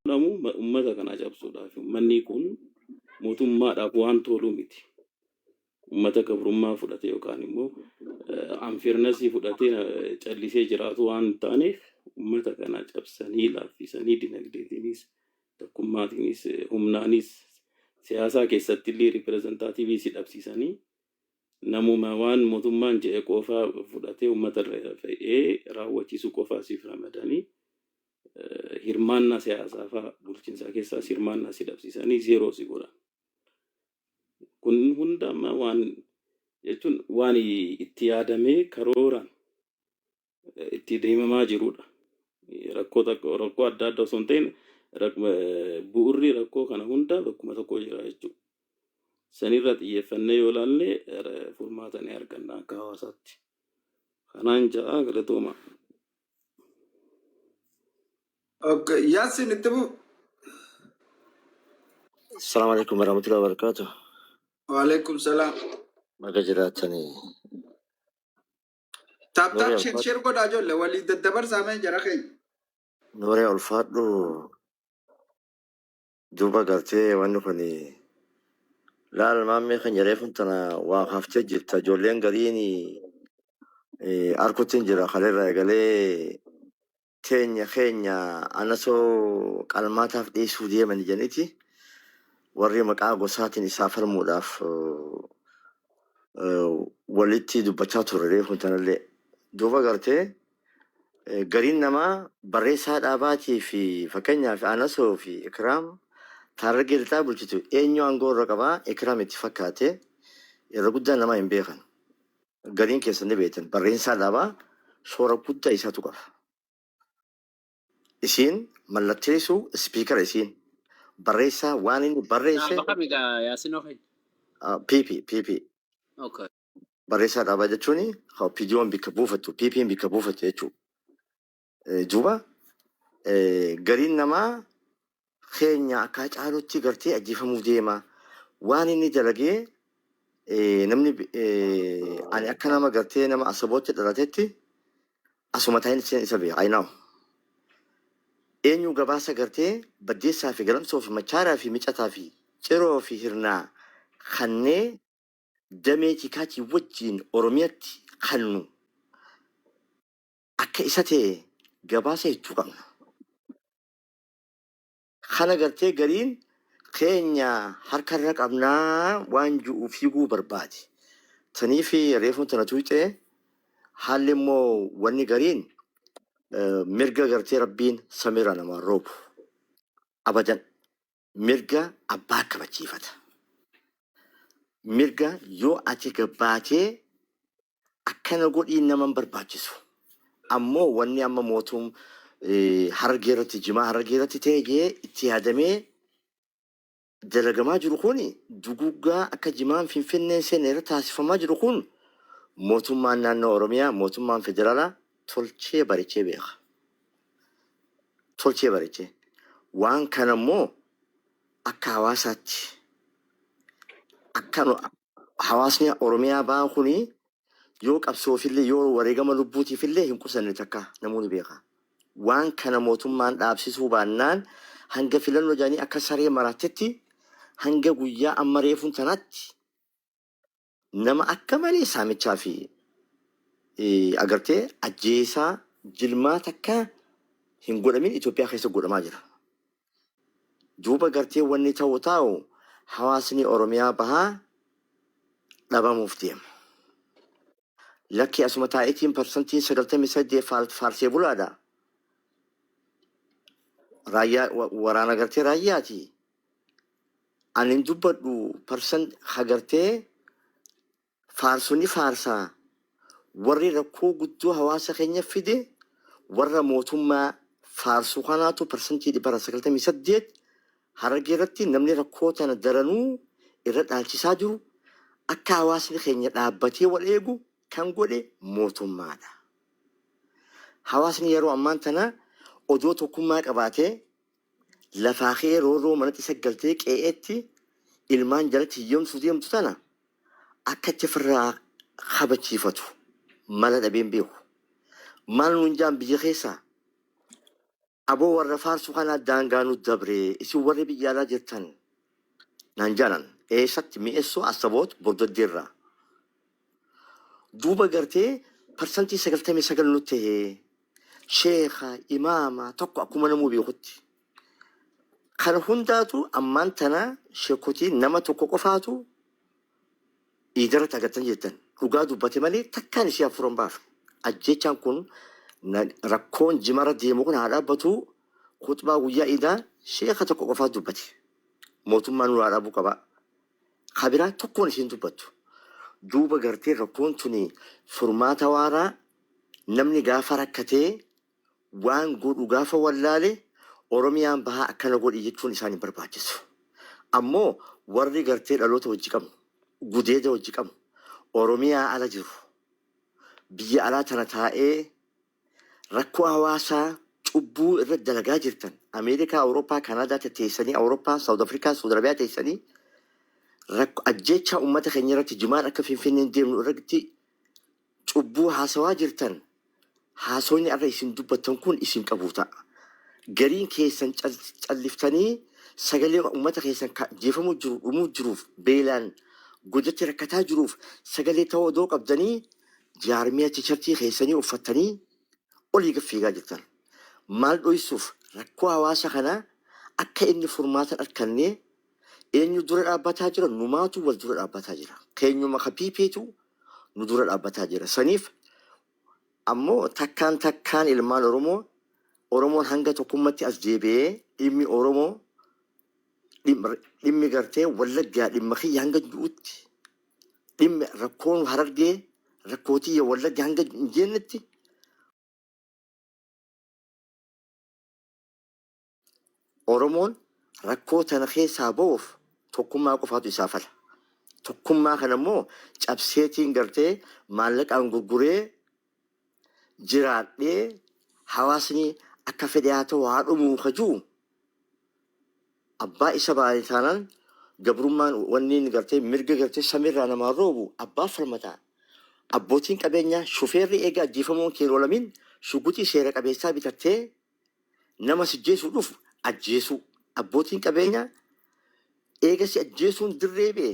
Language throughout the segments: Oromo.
godhamu ummata kanaa cabsuudhaaf ummannii kun mootummaadhaaf waan tooluu miti. Ummata gabrummaa fudhate yookaan immoo anfirnasii fudhatee callisee jiraatu waan hin taaneef ummata kana cabsanii laaffisanii dinagdeetiinis tokkummaatiinis humnaanis siyaasaa keessatti illee ripireezentaatiivii si dhabsiisanii namuma waan mootummaan jedhe qofaa fudhatee ummata irra fe'ee raawwachiisuu qofaa siif ramadanii hirmaannaa siyaasaa faa bulchiinsaa keessaas hirmaannaa si dhabsiisanii zeeroo si godhan. Kun hunda amma waan jechuun waan itti yaadamee karooraan eh, itti deemamaa jirudha. Rakkoo takka- rakkoo adda addaa osoo hin ta'in rak- eh, bu'urri rakkoo kana hunda bakkuma tokko jira jechuudha. Sanirra xiyyeeffannee yoo ilaalle eh, furmaata ni arganna akka hawaasaatti. Kanaan ja'a galatooma. Okay. Yaasin itti bu'u. Assalamu alaikum warahmatullahi wabarakatuh. Waalaikum salaam. Baga jiraatanii. Taap Nuuree taap sheer ulfaadhu. sheer godhaa ijoollee walii daddabarsaa mee jara keenya. Nuuree ulfaadhu. Duuba gartee wanni kun laal maammee keenya reefun tana waa kaaftee jirta ijoolleen gariin eh, arkutti hin jira kaleerraa eegalee teenya keenya anasoo qalmaataaf dhiyeessuu deeman jedhaniti warri maqaa gosaatiin isaa falmuudhaaf eh, eh, walitti dubbachaa turre reefun tanallee duuba gartee Gariin namaa barreessaa dhaabaatii fi fakkeenyaaf Anasoo fi Ikiraam Taarragee lixaa bulchitu eenyu aangoo irra qaba Ikiraam itti fakkaate irra guddaan namaa hin beekan. Gariin keessan ni beektan barreessaa dhaabaa shoora guddaa isaatu qaba. Isiin mallatteessuu ispiikara isiin barreessaa waan inni barreesse Dhaaba kami gaa Yaasin Ofen? PP PP Okay. barreessaa dhaabaa jechuun PDOn bikka buufattu, PPn bikka buufattu jechuudha. Duuba gariin namaa keenya akka Hacaaluutti gartee ajjeefamuu deema. Waan inni dalagee namni ani akka nama gartee nama asabootti dhalatetti asuma taa'in isa beeka. I know. Eenyu gabaasa gartee baddeessaa fi galamsoo fi machaaraa fi micataa fi ciroo fi hirnaa kannee damee tikaatii wajjiin Oromiyatti kannu akka isa ta'e gabaasa hechuu qabna. Kana gartee gariin keenya harka irra qabnaa waan ju'u fiiguu barbaade. Taniif reefuun tana tuuxee haalli immoo wanni gariin eh, mirga gartee rabbiin samiirra namaan roobu. Abadan. mirga abbaa kabachiifata. Mirga yoo ati gabbaatee akkana godhiin nama hin barbaachisu. Ammoo wanni amma mootum eh, harargee irratti jimaa harargee irratti ta'e jee itti yaadamee dalagamaa jiru kun duguggaa akka jimaan finfinneen seene irra taasifamaa jiru kun mootummaan naannoo Oromiyaa mootummaan federaalaa tolchee barechee beeka. Tolchee barechee. Waan kana immoo akka hawaasaatti akka nu hawaasni Oromiyaa ba'aa kuni yoo qabsoofillee yoo wareegama lubbuutiifillee hin qusanne takka namoonni beeka. Waan kana mootummaan dhaabsisuu baannaan hanga filannoo jedhanii akka saree maraattetti hanga guyyaa amma reefuun tanaatti Nama akka malee saamichaa fi agartee ajjeesaa jilmaa takka hin godhamin Itoophiyaa keessa godhamaa jira. Duuba gartee wanni ta'u taa'u hawaasni Oromiyaa bahaa dhabamuuf deema. Lakki asuma taa'itiin parsantiin 98 faal- faarsee bulaadha. Raayyaa wa- waraana gartee raayyaati. Ani hin dubbadhu person ha gartee faarsu ni faarsa warri rakkoo guddoo hawaasa keenya fide warra mootummaa faarsu kanaatu parsantii dhibbarra 98 harargee irratti namni rakkoo tana daranuu irra dhaalchisaa jiru akka hawaasni keenya dhaabbatee wal eegu kan godhe mootummaadha. Hawaasni yeroo ammaan tana odoo tokkummaa qabaatee lafaa kee roorroo manatti saggaltee qe'eetti ilmaan jalatti hiyyomsuuf deemtu tana akkatti ofirraa kabachiifatu mala dhabeen beeku. Maal nuun jaan biyya keessaa? Aboo warra faarsu kanaa daangaa nu dabree isin warri biyya alaa jirtan naan jaanan. Eessatti? Mi'essoo, Assaboot, Bordoddeerraa. duuba gartee parsantii 99 nutti tahee sheekha imaama tokko akkuma namuu beekutti kana hundaatu ammaan tana sheekotii nama tokko qofaatu iidarratti agartan jettan dhugaa dubbate malee takkaan isii hafuuran baafe ajjechaan kun na- rakkoon jimara deemu kun haa dhaabbatu kutbaa guyyaa iidaa sheeka tokko qofaa dubbate mootummaa nurraa dhaabuu qaba Ka biraa tokkoon isiin dubbattu. Duuba gartee rakkoon tuni furmaata waaraa namni gaafa rakkatee waan godhu gaafa wallaale Oromiyaan bahaa akkana godhi jechuun isaan hin barbaachisu. Ammoo warri gartee dhaloota wajji qabnu, gudeeda wajji qabnu Oromiyaa ala jiru biyya alaa tana taa'ee Rakkoo hawaasaa, cubbuu irra dalagaa jirtan, Ameerikaa, Awurooppaa, Kaanaadaa tetteessanii, Awurooppaa, Saawud Afrikaa, Suud Arabiyaa teessanii rakko ajjeechaa uummata keenya irratti jimaan akka Finfinneen deemnu irratti cubbuu haasawaa jirtan haasoonni arra isin dubbattan kun isin qabuu ta'a. Gariin keessan cal- calliftanii sagalee uummata keessan ka jeefamuu jiru, dhumuu jiruuf, beelaan godatti rakkataa jiruuf sagalee ta'uu odoo qabdanii jaarmiyaa chicharchii keessanii uffattanii olii gad fiigaa jirtan. Maal dhoysuuf rakkoo hawaasa kanaa akka inni furmaata hin argannee eenyu dura dhaabbataa jira? Numaatu wal dura dhaabbataa jira. Keenyuma ka PPtu nu dura dhaabbataa jira. Saniif ammoo takkaan takkaan ilmaan Oromoo Oromoon hanga tokkummatti as deebi'ee dhimmi Oromoo dhimmi gartee wallaggaa dhimma kiyya hanga du'utti dhimmi rakkoon harargee rakkoo tiyya wallagga hanga hin jeennetti oromoon rakkoo tana keessaa ba'uuf tokkummaa qofaatu isaa fala tokkummaa kana immoo cabseetiin gartee maallaqaan gurguree jiraadhee hawaasni akka fedhe haa ta'u haa dhumuu ka jiru abbaa isa baane taanaan gabrummaan wanni inni gartee mirga gartee samiirraa namaan roobu abbaa falmataa abbootiin qabeenyaa shufeerri eega ajjeefamuun keeroolamin shuguxii seera qabeessaa bitattee Nama sijjeesuu dhufu ajjeesuu. Abbootiin qabeenyaa eega si ajjeesuun dirree ba'e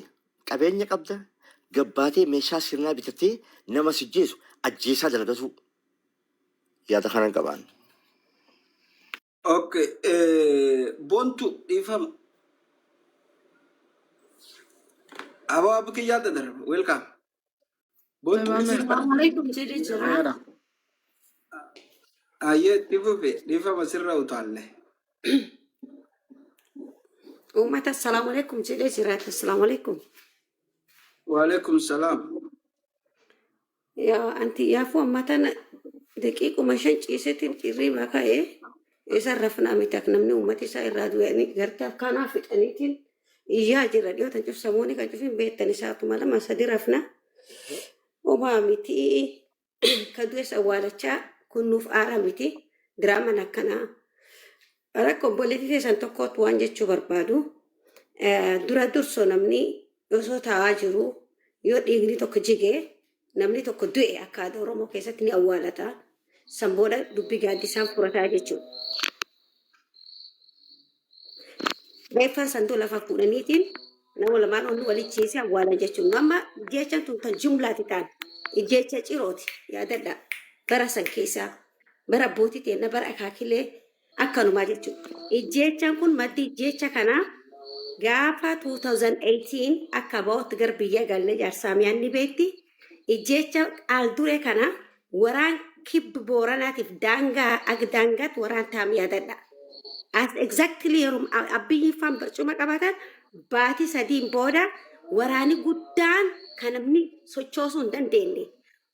qabeenya qabda gabbaatee meeshaa sirnaa bitatee nama sijjeesu ajjeesaa dalagatuu yaada kanan qabaan. Ok bontu dhiifama aboo abbi kiyyaa dadar welcome. Boottu Salaam isin Assalamu alaikum jedhe jira. Nagaadha. Ayyee itti fufe dhiifama sirra utaalle. Uummata assalamu alaikum jedhe jira. Assalamu alaikum. Waalaikum salaam. Yaa anti yaafuu amma tana daqiiquma shan ciisetiin dhirrii makaa'ee isa rafnaa miti akka namni uummata isaa irraa du'anii gartaaf kanaa fixaniitiin Iyyaa jirra dhiyoo tan cuf samooni kan cufin beettani saatuma lama sadi rafna. Omaa miti ka du'es awwaalachaa kun nuuf aara miti diraaman akkanaa. Rakko obboleetii teessan tokkootu waan jechuu barbaadu. Eh, Dura durso namni osoo taa'aa jiru yoo dhiigni tokko jige Namni tokko du'e akka aadaa Oromoo keessatti ni awwaalata. San booda dubbi gaaddisaan furataa jechuudha. Reeffaan sanduu lafa fuudhaniitiin nama lamaan ol walichiisee awwaalan jechuudha. Amma jecha tun tan jumlaati taan. Jecha cirooti yaadadha. Bara san keessaa bara abbootii teenna bara akaakilee Akkanumaa jechuun ijjeechaan kun maddi ijjeecha kanaa gaafa 2018 akka ba'utti gar biyya galle jaarsaamiyaan ni beekti. Ijjeecha qaal duree kana waraan kibbi booranaatiif daangaa ag daangaatti waraan taam yaadadha. As exactly yeroo abbiyyiin faan barcuma qabatan baatii sadiin booda waraani guddaan kan namni sochoosuu hin dandeenye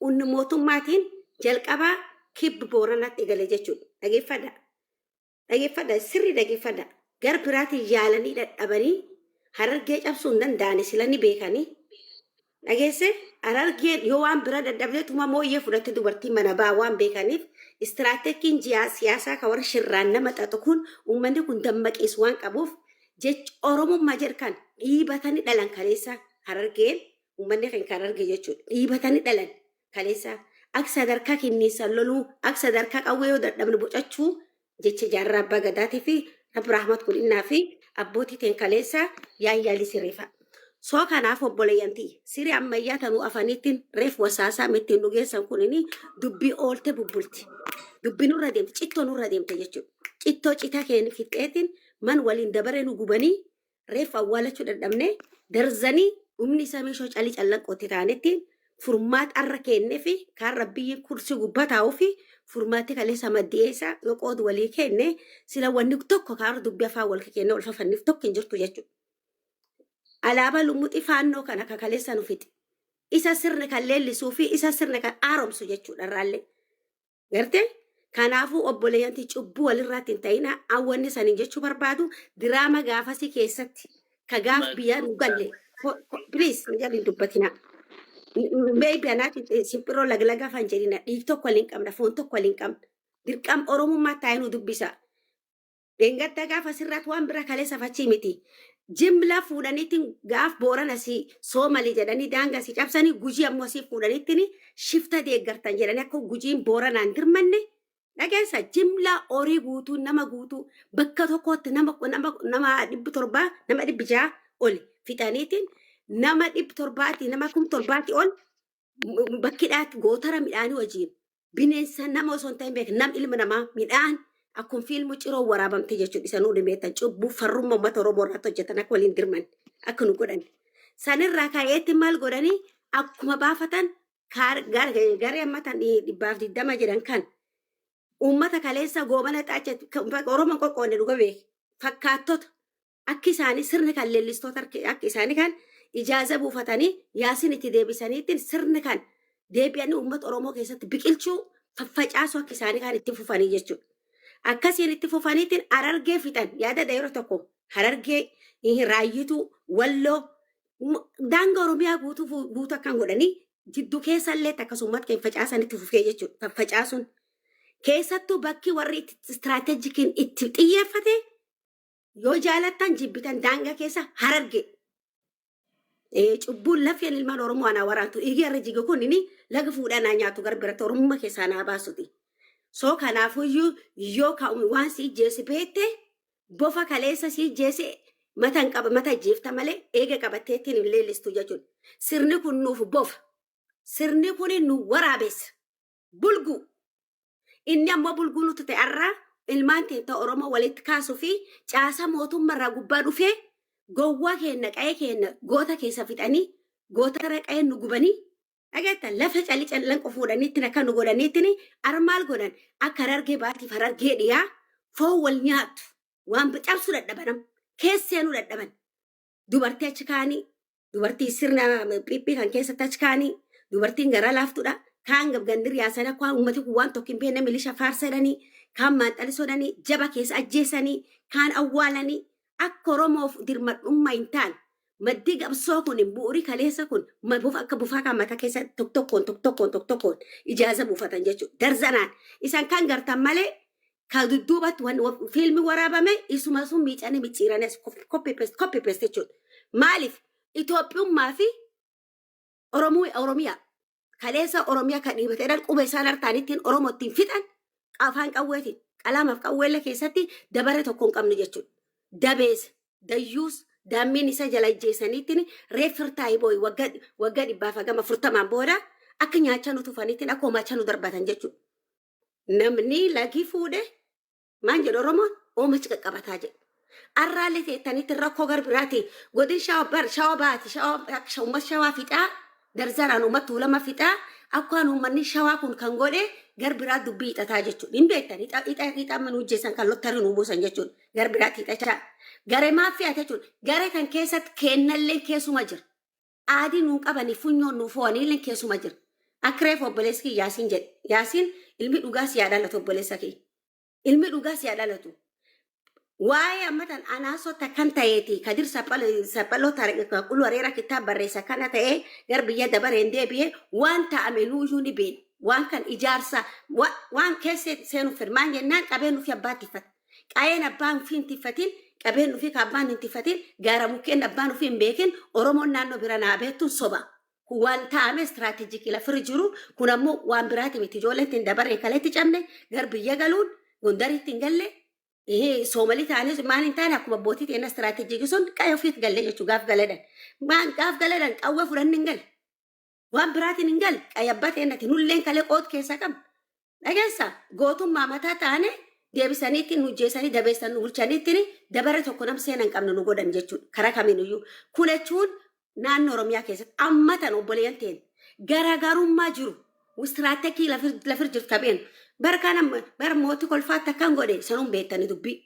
Unn mootummaatiin jalqaba Kib Booranatti gale jechuudha. Dhageeffadha. Dhageeffadha. Sirri dhageeffadha. Gar biraatiin yaalanii dhadhabanii harargee cabsuu hin danda'ani sila ni beekanii. Dhageesse harargeen yoo waan bira dhadhabdeetuma mooyyee fudhatte dubartiin mana baa waan beekaniif istiraateekiin jiyaa siyaasaa ka warri shirraan nama xaxu kun uummanni kun dammaqiis waan qabuuf jecha oromummaa jedhu kan dhiibatanii dhalan kaleessa harargeen ummanni keenya kan arge jechuudha. Dhiibatanii dhalan kaleessa akka sadarkaa kenniinsaan loluu akka sadarkaa qawwee yoo dadhabne bocachuu jecha jaarraa abbaa gadaatii fi rabbi rahmat godhinnaa fi abbootii teen kaleessa yaayyaalii siriifa. Soo kanaaf obboleeyyantii siree ammayyaa tanuu afaniittiin reef wasaasaa mittiin dhugeessan kunini dubbii oolte bubbulti. Dubbii nurra deemte cittoo nurra deemte jechuudha. Cittoo citaa keenya fixxeetiin man waliin dabaree nu gubanii reeffa awwaalachuu dadhabnee darzanii dhumni isaa meeshoo calii callaqqootti taanetti furmaata arra keennee fi kaan rabbiyyii kursi gubbaa taa'uu fi furmaatti kaleessa maddi'ee isaa yoo qoodu walii keenne sila wanni tokko kaarra dubbii afaan wal keenne wal fafanniif tokko hin jirtu jechuudha. Alaabaa lumuxii faannoo kana akka kaleessa nu fixi. Isa sirni kan leellisuu fi isa sirni kan haaromsu jechuudha irraallee. Garte? Kanaafuu obboleeyyanti cubbuu walirraatti hin ta'ina awwanni saniin jechuu barbaadu diraama gaafasii keessatti ka gaaf biyya nu galle please na jalli hin dubbatina. Maybe anaaf simpiroo laglaga fan jedhina dhiig tokko waliin qabna foon tokko waliin qabna dirqam oromummaa taa'ee nu dubbisa. Dhengadda gaaf asirraat waan bira kaleessaf achii miti. Jimla fuudhaniitiin gaaf booran asii soomali jedhanii daanga asii cabsanii gujii ammoo asii fuudhaniitiin shifta deeggartan jedhanii akka gujiin booranaan dirmanne dhageessa jimla horii guutuu nama guutuu bakka tokkotti nama nama nama dhibbi torbaa nama dhibbi ja'a oli fixaniitiin nama dhibbi torbaatii nama kum torbaatii ol m- bakkidhaatti gootara midhaanii wajjin bineensa nama osoo hin ta'in beeka nam ilma namaa midhaan akkuma fiilmu ciroo waraabamte jechuudha isa nuudhi beektan cubbuu farrummaa uummata oromoo irratti hojjetan akka waliin dirman akka nu godhan sanirraa ka'eetti maal godhanii akkuma baafatan kaar- gar- garee amma tan dhi- dhibbaaf digdama jedhan kan uummata kaleessa goobana xaacha oromoon qoqqoodne dhuga beeki fakkaattota Akki isaani sirni kan leellistoota harki akki isaani kan ijaaza buufatani Yaasin itti deebisaniittin sirni kan deebi'ani uummata Oromoo keessatti biqilchuu faffacaasu akki isaani kan itti fufanii jechuudha. Akkasiin itti fufaniittin Harargee fixan yaadadha yeroo tokko Harargee ihi Raayyituu Walloo m- daanga Oromiyaa guutuu fu- guutuu akkan godhanii jiddu keessa illeetti akkas uummata keenya facaasan itti fufee jechuudha. Faffacaasuun keessattuu bakki warri itti istiraateejikiin itti xiyyeeffate Yoo jaalattan jibbitan daangaa keessa hararge. Eh, Cubbuun lafeen ilmaan Oromoo anaa waraantu dhiigii har'a jige kun inni laga fuudhaa naa nyaatu gara biratti Oromummaa keessaa naa baasuti. So kanaafuyyuu yoo ka waan si ijjeessi beekte bofa kaleessa si ijjeesse mata hin qaba mata ijjeefta malee eega qabatteettiin hin leellistu jechuudha. Sirni kun nuuf bofa. Sirni kun nu waraabessa. bulguu inni ammoo bulguu nutti ta'e har'a ilmaan keenya Oromoo walitti kaasuu fi caasaa mootummaa irraa gubbaa dhufee gowwaa keenya qa'ee keenya goota keessa fixanii goota irra qa'ee nu gubanii dhageetta lafa calli callan qofuudhaniittiin akka nu godhaniittiin har'a maal godhan akka harargee baatiif harargee dhiyaa foon wal nyaattu waan cabsuu dadhabanam keesseenuu dadhaban dubartii achi kaanii dubartii sirna phiphii kan keessatti achi kaanii dubartiin garaa laaftudha kaan gandi riyaasanii akka waan uummati kun waan tokko hin beekne milisha faarsadhanii kaan maanxalisodhanii jaba keessa ajjeesanii kaan awwaalanii akka oromoof dirmadhummaa hin taane maddii qabsoo kun bu'uuri kaleessa kun ma- bufa- akka bufaa kan mataa keessa tokko tokkoon tokko tokkoon tokko tokkoon ijaaza buufatan jechuudha darzanaan isan kan gartan malee ka dudduubatti wan- wa- fiilmi waraabame isuma sun miicanii micciiranii as kof- copy paste copy paste jechuudha. Maaliif Itoophiyummaa fi Oromoo- Oromiyaa kaleessa Oromiyaa kan dhiibate jedhan qubee isaan hartaan ittiin Oromoo ittiin fixan afaan qawweetiin qalaamaaf qawweellee keessatti dabaree tokko hin qabne jechuudha. Dabees, dayyuus, daammiin isa jala ajjeesaniitiin reeffir taayibooyi waggaa waggaa dhibbaaf hagama furtamaan booda akka nyaachaa nu tufaniitiin akka homaachaa nu darbatan jechuudha. Namni lagii fuudhe maan jedhu Oromoon oomachi qaqqabataa jedhu. Arraalee teettanitti rakkoo gara biraati. Godin shawa bar shawa baati shawa sha- ummat shawaa fixaa darzaraan ummat tuulama fixaa akkaan ummanni shawaa kun kan godhe gar biraa dubbii hixataa jechuudha. Hin beektan hixa hixa hixa amma nu jeessan kan lottarii nu buusan jechuudha. Gar biraatti hixachaa. Gare maaf fe'ate jechuudha. Gare kan keessatti keennallee keessuma jira. aadii nuun qabanii funyoon nuu foo'anii illeen keessuma jira. Akka reef obboleessi kiyya Yaasiin jedhe. Yaasiin ilmi dhugaa si yaa dhalatu obboleessa kiyya. Ilmi dhugaa si yaa dhalatu. Waa'ee ammatan anaasoo takkan ta'eeti kadir saphaloo quluu areera kitaab barreessa kana ta'ee gar biyya dabareen deebi'ee waan ta'ame nuuyyuu ni beena. Waan kan ijaarsa waan keessa seenuuf fedhu maal jennaan qabee nuuf abbaatti fata. Qa'een abbaan ufii hin tiffatin, qabeen ufii ka abbaan hin tiffatin, gaara mukkeen abbaan ufii hin beekin, Oromoon naannoo bira naa beettun soba. Kun waan taa'amee strategic lafir jiru, kun ammoo waan biraati miti. Ijoolleen tun dabaree kaleetti cabne, gar biyya galuun, Gondaritti hin galle, ihi, Soomalii taanee maal hin taane akkuma abbootii teenna strategic sun qa'ee ufiit galle jechuu gaaf galadhan. Maan gaaf galadhan qawwee fudhanne hin galle. Waan biraatiin hin galle qayabbaa teennati nulleen kalee qood keessa qabna. Dhageessa gootummaa mataa taane deebisaniitti nu jeesanii dabeessan nu bulchaniitti dabara tokko nam seena hin qabne nu godhan jechuudha. Karaa kamiinuyyuu. Kun jechuun naannoo Oromiyaa keessatti amma tan obboleeyyan ta'een garaagarummaa jiru istiraatekii lafir jirtu tapheen bara kana bara mootii kolfaatti akkan godhe sanuun beektanii dubbii.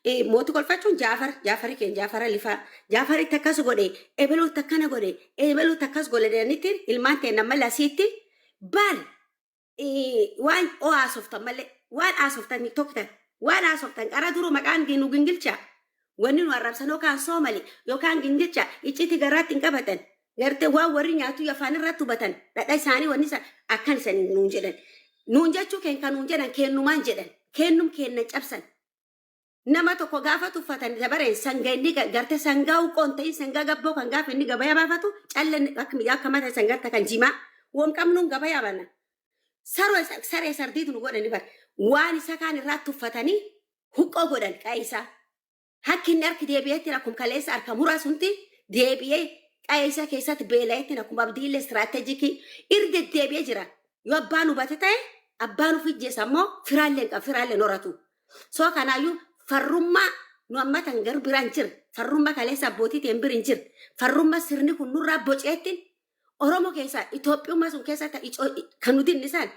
Eh, Mooti kolfachuun Jaafar, Jaafari keenya Jaafara lifaa, Jaafaritti akkas godhe, ebeluutti akkana godhe, ebeluutti akkas godhe jedhanitti ilmaan teenna malee asiitti baal eh, waan oo haasoftan malee waan haasoftan tiktoktan waan haasoftan qara duru maqaan gi- nu gingilchaa wanni nu arrabsan yookaan soomali yookaan gingilchaa icciitii garaatti hin qabatan Garte waan warri nyaatu afaan irratti hubatan dhadha isaanii wanni isa akkan isan nuun jedhan. Nuun jechuu keen kan nuun jedhan keennumaan jedhan. Keennum keenna cabsan. Nama tokko gaafa tuffatan dabareen sanga inni ga- garte sangaa uqqoon ta'in sangaa gabboo kan gaafa inni gabayaa baafatu calla inni akka miidhaa akka mata isan garte kan jimaa. Wam qabnuun gabayaa baana. Saroo isa- saree sardiitu nu godhani bar. Waan isa kaan irraa tuffatanii huqqoo godhan qa'ee isaa. Hakki inni harki deebi'eettiin akkuma kaleessa harka muraa sunti deebi'ee qa'ee isaa keessatti beela'eettiin akkuma abdiillee istiraatejikii irra deddeebi'ee jira. Yoo abbaan hubate ta'e abbaan of ijjeessa immoo firaallee hin qabu firaallee hin horatu. Soo kanaayyuu farrummaa nu amma tan garuu biraan jira. Farrummaa kaleessa abbootii ta'een biri hin jira. Farrummaa sirni kun nurraa boceettiin Oromo keessaa Itoophiyummaa sun keessa ta- ico- kan nu dinni san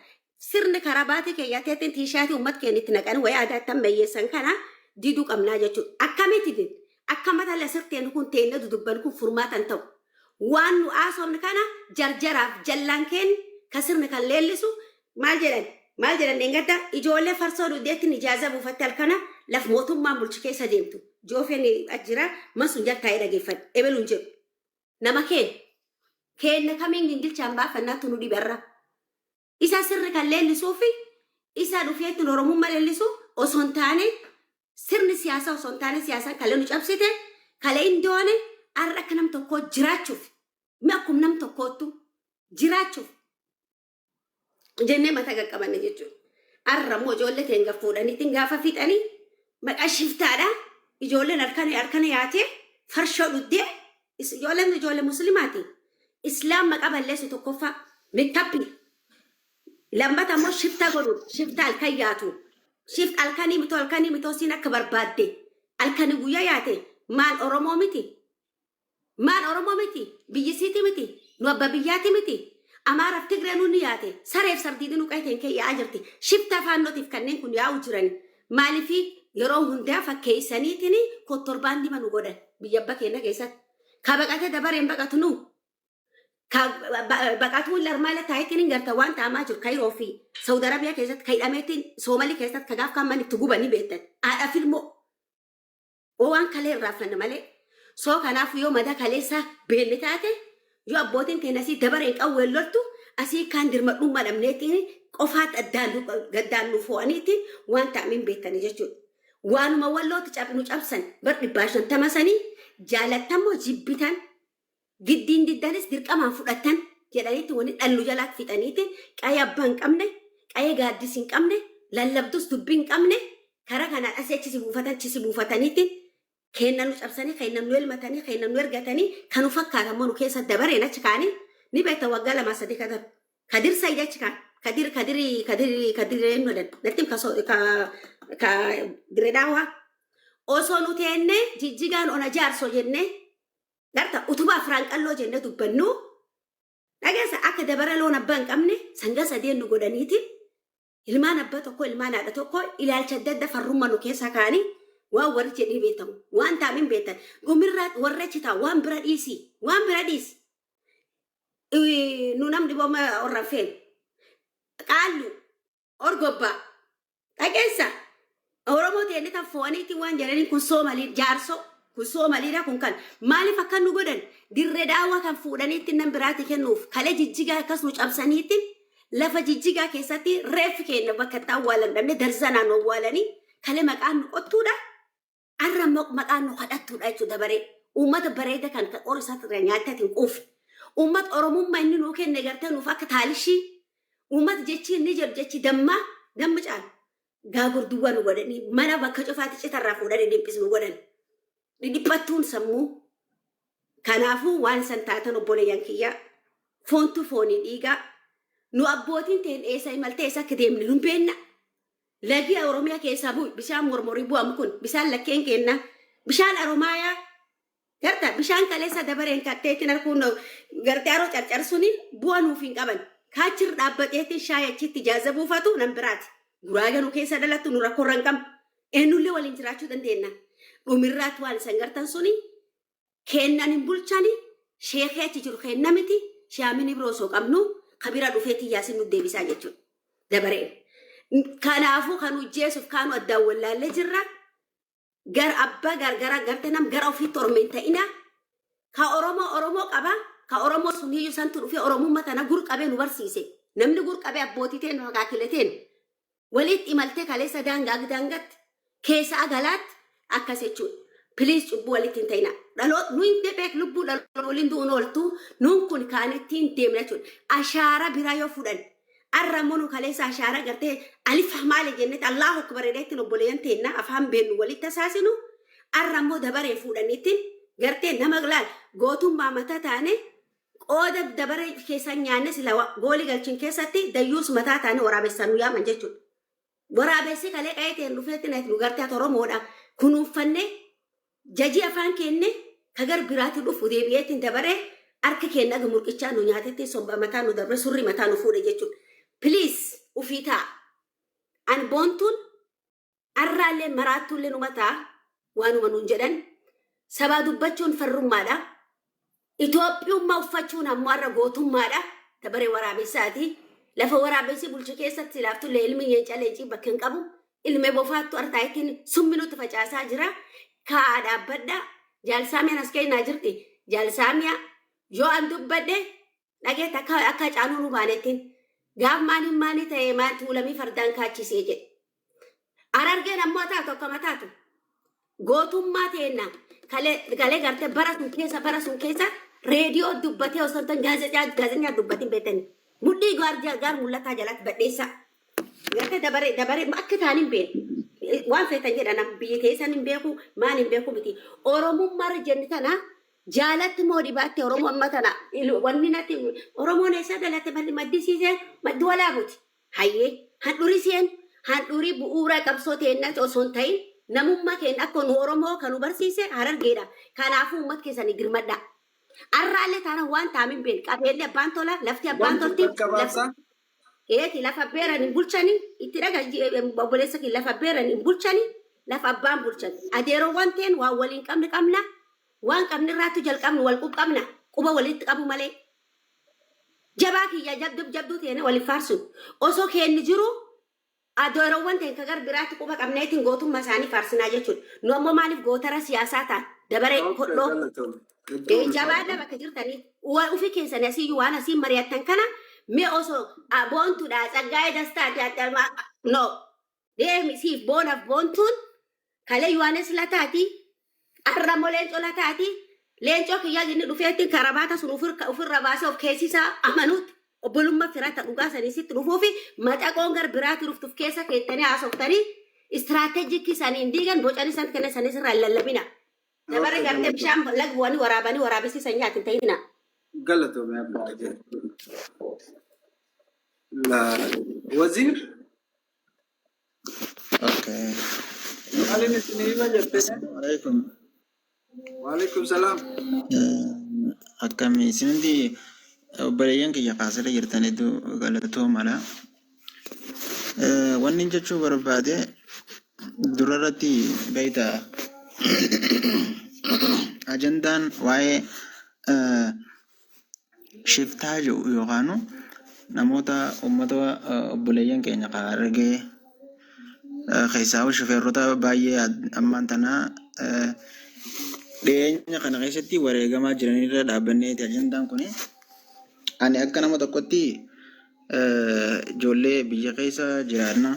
sirni karabaatii keeyyateetiin tiishaatii uummata keenya itti naqanii wayii aadaa tan meeyyeessan kana diduu qabnaa jechuudha. Akkamitti din? Akka mata la sirteen kun teennee dudubban kun furmaata hin ta'u. Waan nu haasofne kana jarjaraaf jallaan keenya kan sirni kan leellisu maal jedhan? Maal jedhan dheengadda ijoollee farsoo dugdeettiin ijaaza buufatte halkana laf mootummaan bulchi keessa deemtu. Joofeen ajjira man sun jaltaa'ee dhageeffadhe ebeluun jedhu. Nama keen. Keenna kamiin gingilchaan baafannaattu nu dhibe arra. Isa sirri kan leellisuu fi isa dhufee ittiin Oromummaa leellisu osoo hin taane sirni siyaasaa osoo hin taane siyaasaan kalee nu cabsite kalee hin doone arra akka nam tokkoo jiraachuuf mi akkum nam tokkoottu jiraachuuf jennee mataa qaqqabanne jechuudha. Har'a immoo ijoollee teenya fuudhaniitiin gaafa fixanii maqaa shiftaadha. Ijoolleen harkana harkana yaatee farshoo dhuddee is- ijoolleen ijoollee musliimaati. Islaam maqaa balleessu tokkoffaa meekkappii lammata immoo shiftaa godhuudha. Shiftaa halkan yaatu. Shift halkanii mitoo halkanii mitoo siin akka barbaadde halkanii guyyaa yaate maal Oromoo miti. Maal Oromoo miti? Biyyi isiiti miti? Nu abba biyyaati miti? Amaaraf Tigree nuun ni yaate. Sareef sardiidi nu qe'ee keenya keessa yaa'aa jirti. Shiftaa Faannootiif kanneen kun yaa'uu jirani. Maalifi yeroo hundaa fakkeessaniitini kottorbaandima nu godhan biyya abba keenya keessatti. Ka baqatee dabareen baqatu nu. Ka baqatuu illee armaa illee taayitiin hin garta waan ta'amaa jiru Kayiroo fi Saud Arabiyaa keessatti ka hidhameetiin Soomalii keessatti ka gaaf kaan mana itti guban ni beektan. Haadhaaf ilmoo. O Waan kalee irraa fanna malee. Soo kanaafuu yoo madaa kaleessaa beenne taate yoo abbootiin teenya asii dabareen qawween loltu asii kaan dirmadhummaa dhabneetiin qofaatti addaan nu- gaddaan nu foo'aniitiin waan ta'ame hin beektani jechuudha. Waanuma wallootti cab- nu cabsan bar dhibbaa shantama sanii jaalattan moo jibbitan Giddiin diddanis dirqamaan fudhattan jedhaniitti wani dhan nu jalaa fixaniiti qayee abbaa hin qabne, qayee gaaddis hin qabne, lallabdus dubbi hin qabne kara kanaan asi achi si buufatan chi si buufataniiti keenna nu cabsanii keenna nu elmatanii keenna nu ergatanii ka nu fakkaatan mo nu keessa dabareen achi kaanii ni beekta waggaa lamaa sadii ka dar kadir sayid achi kaan kadir kadir kadir kadir eenyu jedhan nattim ka so ka ka diredaawaa osoo nu teennee jijjigaan ona jaarso jennee Garta utubaa afraan qalloo jenne dubbannuu dhageessa akka dabara loon abbaa hin qabne sanga sadeen nu godhaniiti ilmaan abba tokko ilmaan haadha tokko ilaalcha adda adda farrumma nu keessa kaanii waan warri jedhee beektamu waan taamin beektan gumirraa warra chitaa waan bira dhiisi waan bira dhiisi nu namni booma orra feenu qaallu Orgobbaa. Dhageessa. Oromoo teenne tan fo'aniitiin waan jedhaniin kun soomalii jaarsoo kun soomaliidha kun kan maaliif akka nu godhan dirre daawwa kan fuudhaniitti nan biraatti kennuuf kale jijjigaa akkas nu cabsaniitti lafa jijjigaa keessatti reeffi keenya bakka itti awwaalan dhabne darzanaan nu awwaalanii kale maqaan nu qottuudha Arra ammoo maqaan nu kadhattuudha jechuun dabaree uummata bareeda kan kan qorri isaa irraa nyaattee ati hin quufne. Uummata Oromummaa inni nuu kenne gartee nuuf akka taalishii uummata jechi inni jedhu jechi dammaa damma caalu. Gaagor duwwaa nu godhanii mana bakka cufaatti cita irraa fuudhanii dhiphisu nu godhan. Dhidhiphattuun sammuu. Kanaafuu waan san taatan obboleeyyan kiyyaa foontu foonii dhiigaa nu abbootiin ta'een eessa imaltee eessa akka deemne nu hin beekna. Lagi Oromiya keesaa bu, bishaan mormori buamu kun bishaan lakkeen keennaa. Bishaan Aromaayaa garta bishaan kaleessa dabareen kattee ittin harkuun gartee aroo carcar suni bu'a nuuf hin qaban. Kaa achirra dhaabbateetiin shaay achitti jaaza buufatu nan biraati. Guraaga nu keessa dhalattu nu rakkorra hin qabnu. Eennullee waliin jiraachuu dandeenna. Dhumirraatti waan isan gartan suni Keennan hin bulchani sheekhi achi jiru keenna miti shaamin ibro osoo qabnu ka bira dhufeeti yaasin nu deebisaa jechuudha. Dabareen. Kanaafuu kan hojjeesuuf kaanu addaan wallaallee jirra. Gar abbaa gargara garte nam gara ofiitti orma hin ta'ina. Ka Oromoo Oromoo qaba. Ka Oromoo sun hiyyuu santu dhufee Oromummaa tana gur qabee nu barsiise. Namni gur qabee abbootii teenu akaakilee teenu. Waliitti imaltee kaleessa daanga ag daangatti keessa ag alaatti akkas jechuun please cubbuu walitti hin ta'ina. Dhaloot nu hin debeek lubbuu dhaloot waliin du'uun ooltu nuun kun kaan ittiin deemna jechuun ashaara biraa yoo fudhan arra immoo nu kaleessa ashaara gartee alif maali jennetti allahu akbar jedheetti obboleeyyan teenna afaan beennu walitti tasaasinu arra immoo dabaree fuudhaniitti gartee nama laal gootummaa mata taane Qooda dabare keessan nyaanne sila wa, gooli galchin keessatti dayyuus mataa taane waraabessaan nu yaaman jechuudha. Waraabessi kalee qa'ee ta'een dhufeetti nati nu gartee ati Oromoodha kunuunfanne jajii afaan keenne ka gar biraatti dhufu deebi'eetti dabaree harki keenya aga murqichaa nu nyaatetti sobba mataa nu dabre surri mataa nu fuudhe jechuudha. Please ufii ta'a. An boontuun Arraallee maraattuullee numa ta'a waanuma nuun jedhan sabaa dubbachuun farrummaadha. Itoophiyummaa uffachuun ammoo har'a gootummaadha. Dabaree waraabessaati. Lafa waraabessi bulchu keessatti silaaftullee ilmi leenca leencii bakka hin qabu. Ilmee bofaattu hartaa ittiin summi nutti facaasaa jira. Kaa'aa dhaabbadha. Jaalsaamiyaan as kennaa jirti. Jaalsaamiyaa yoo an dubbadhe Dhageette akka akka Hacaaluu Rumaaleettiin gaaf maaliin maalii ta'ee maal tuulamii fardaan kaachisee jedhe. Harargeen ammoo taatu akkama taatu. Gootummaa teenna kalee galee gartee bara sun keessa bara sun keessa reediyoo dubbatee osoo hin ta'in gaazexaa gaazexaa dubbatiin beektanii. Mudhii gaar gaar mul'ataa jalatti badheessaa. Gartee dabaree dabaree akka ta'an hin beeku. Waan feetan jedhan biyyi teessan hin beeku maal hin beeku miti. Oromummaa irra jenni tana Jaalatti moo dhibaatte Oromoo amma tana il- wanni natti Oromoon eessaa dhalatte mal- maddisiiseen maddi walaabuti. Hayyee handhuriseen handhurii bu'uura qabsoo teennati osoo hin ta'in namummaa keenya akka nu Oromoo kan nu barsiise harargeedha. Kanaafuu uummata keessanii dirmadhaa. Arraallee taana waan taa'ame hin beekne qabeelli abbaan tola lafti abbaan Wanti tolti takka lafti baasa Eeti lafa beeran hin bulchani itti dhaga obboleessa kee lafa beeran hin bulchani lafa abbaan bulchan adeerowwan teen waan waliin qabne qabna waan qabne irraattu jalqabnu wal quqqabna quba walitti qabu malee jabaa kiyya jabduu jabduu teene waliin faarsun osoo keenni jiru Adoorowwan teenka gar biraatti quba qabneetiin gootummaa isaanii faarsinaa jechuudha. Nu ammoo maaliif gootara siyaasaa taana? Dabaree, Ok Hodhoo. galatomi. Hedduu Ee, ulfaadha. jabaadha bakka jirtanii wa- ofii keessan asiyyuu waan asiin mari'attan kana mee osoo a, boontuudha tsaggaa'ee dastaati adda ma- no deemi siif boonaaf boontuun Kale Yohanes lataati, arra mo leenco lataati, leenco kiyya inni dhufeetti karabaata sun ufir- ufirra baasee of keessisaa amanuutti obbolumma firata dhugaa sanii sitti dhufuufi maxaqoon gar biraati dhuftuf keessa keettanii haasoftanii istiraateejikii saniin diigan bocanii san kenna sanis irraa hin lallabina. Dabarri Okay, gartee bishaan galatoomi. laga bu'anii waraabanii waraabessi sanyaati hin ta'ina. Galatoomi abbaa jedhu. La- Waziir Okay. Maalin isin hima jette? Assalamu alaikum. Waalaikum salaam. Um, Akkami isinti obboleeyyan kiyya kaasirra jirtan hedduu galatoo mala. Eh, Wanni jechuu barbaade durarratti beektaa ajandaan waa'ee eh, shiftaa jedhu yookaan namoota uummata obboleeyyan keenya kan Harargee keessaa shifeerrota baay'ee ammaan tana dhiyeenya kana keessatti wareegamaa jiranirra dhaabbannee ajandaan kun ani akka nama tokkotti ijoollee biyya keessa jiraanna.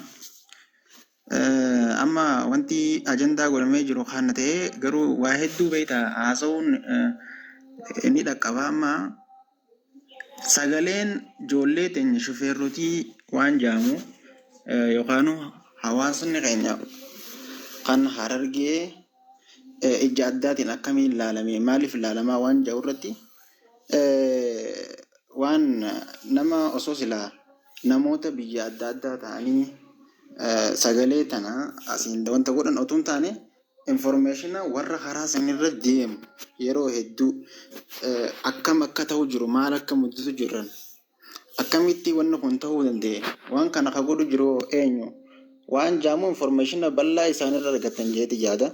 Amma wanti ajandaa godhamee jiru kana ta'ee garuu waa hedduu beekta haasa'uun ni dhaqqaba amma sagaleen ijoollee teenya shufeerrotii waan jaamu yookaan hawaasni keenya kan harargee ija addaatiin akkamiin ilaalame maaliif ilaalamaa waan jedhu irratti waan nama osoo silaa Namoota biyya adda addaa ta'anii sagalee tana asiin wanta godhan otuu hin taane information warra karaa san irra deemu yeroo hedduu akkam akka ta'u jiru maal akka mudatu jirran akkamitti wanni kun ta'uu danda'e waan kana ka godhu jiru eenyu waan jaamu information bal'aa isaan irra argatan jeeti yaada.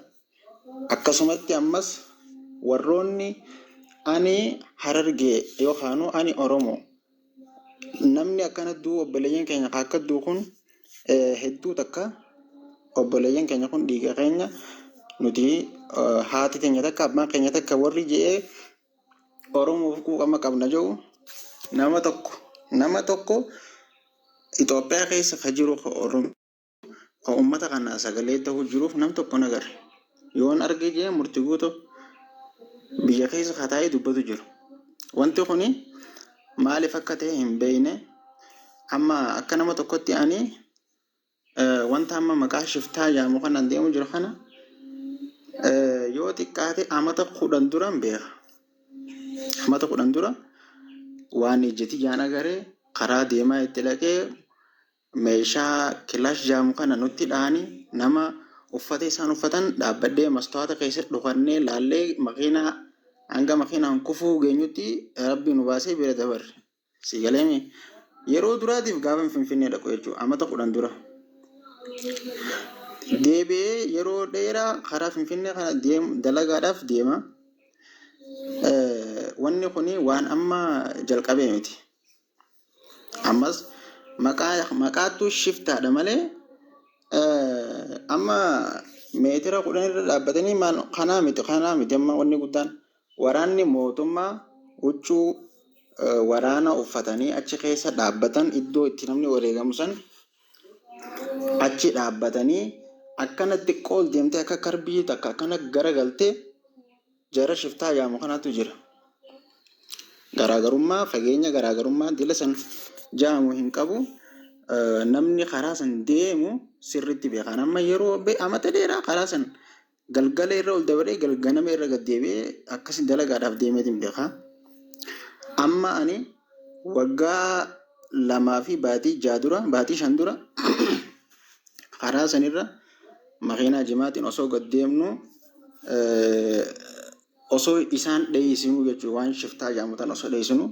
Akkasumatti ammas warroonni ani harargee yookaanuu ani oromo namni akkana du'u obboleeyyan keenya ka akka du'u kun hedduu takka obboleeyyan keenya kun dhiiga keenya nuti haati teenya takka abbaan keenya takka warri je'ee oromoof quuqama qabna je'u nama tokko nama tokko Itoophiyaa keessa ka jiru ka oromo ka ummata kanaa sagalee tahu jiruuf nam tokko hin agarre. Yoon arge jee murti guuto biyya keessa ka taa'ee dubbatu jiru. Wanti kuni maalif akka tahe hin beeyne. Amma akka nama tokkotti ani eh, wanta amma maqaa shiftaa jaamu kanaan deemu jiru kana eh, yoo xiqqaate amata kudhan duran beeka. Amata kudhan dura waan ijjati jaan agaree karaa deemaa itti dhaqee Meeshaa kilash jaamu kana nutti dhahani nama uffata isaan uffatan dhaabbadhee mastawaata keessa dhukannee laallee makiinaa hanga makiinaan kufuu geenyutti rabbii nu baasee bira dabarre. Si galeemi yeroo duraatiif gaafa finfinnee dhaqu jechuudha amata kudhan dura. Deebi'ee yeroo dheeraa karaa finfinnee kana deemu dalagaadhaaf deema. Eh, Wanni kun waan amma jalqabee miti. Ammas maqaa maqaattu shiftaadha malee eh, amma meetira kudhan irra dhaabbatanii maan kanaa miti kanaa miti amma wanni guddaan waraanni mootummaa huccuu eh, waraana uffatanii achi keessa dhaabbatan iddoo itti namni wareegamu san achi dhaabbatanii akkana xiqqoo ol deemtee akka karbii takka akkana garagaltee Jara shiftaa yaamu kanatu jira. Garaagarummaa fageenya garaagarummaa dila san jaamu hin qabu. Namni karaa san deemu sirriitti beekaan amma yeroo amata dheeraa karaa san galgala irra ol dabaree galganama irra gad deebi'ee akkasi dalagaadhaaf deemeetiin beekaa. Amma ani Waggaa lamaa fi baatii ja'a dura, baatii shan dura karaa sanirra makiinaa jimaatiin osoo gad deemnu osoo isaan dheeysinuu jechuudha. Waan shiftaa jedhamu tan osoo dheeysinuu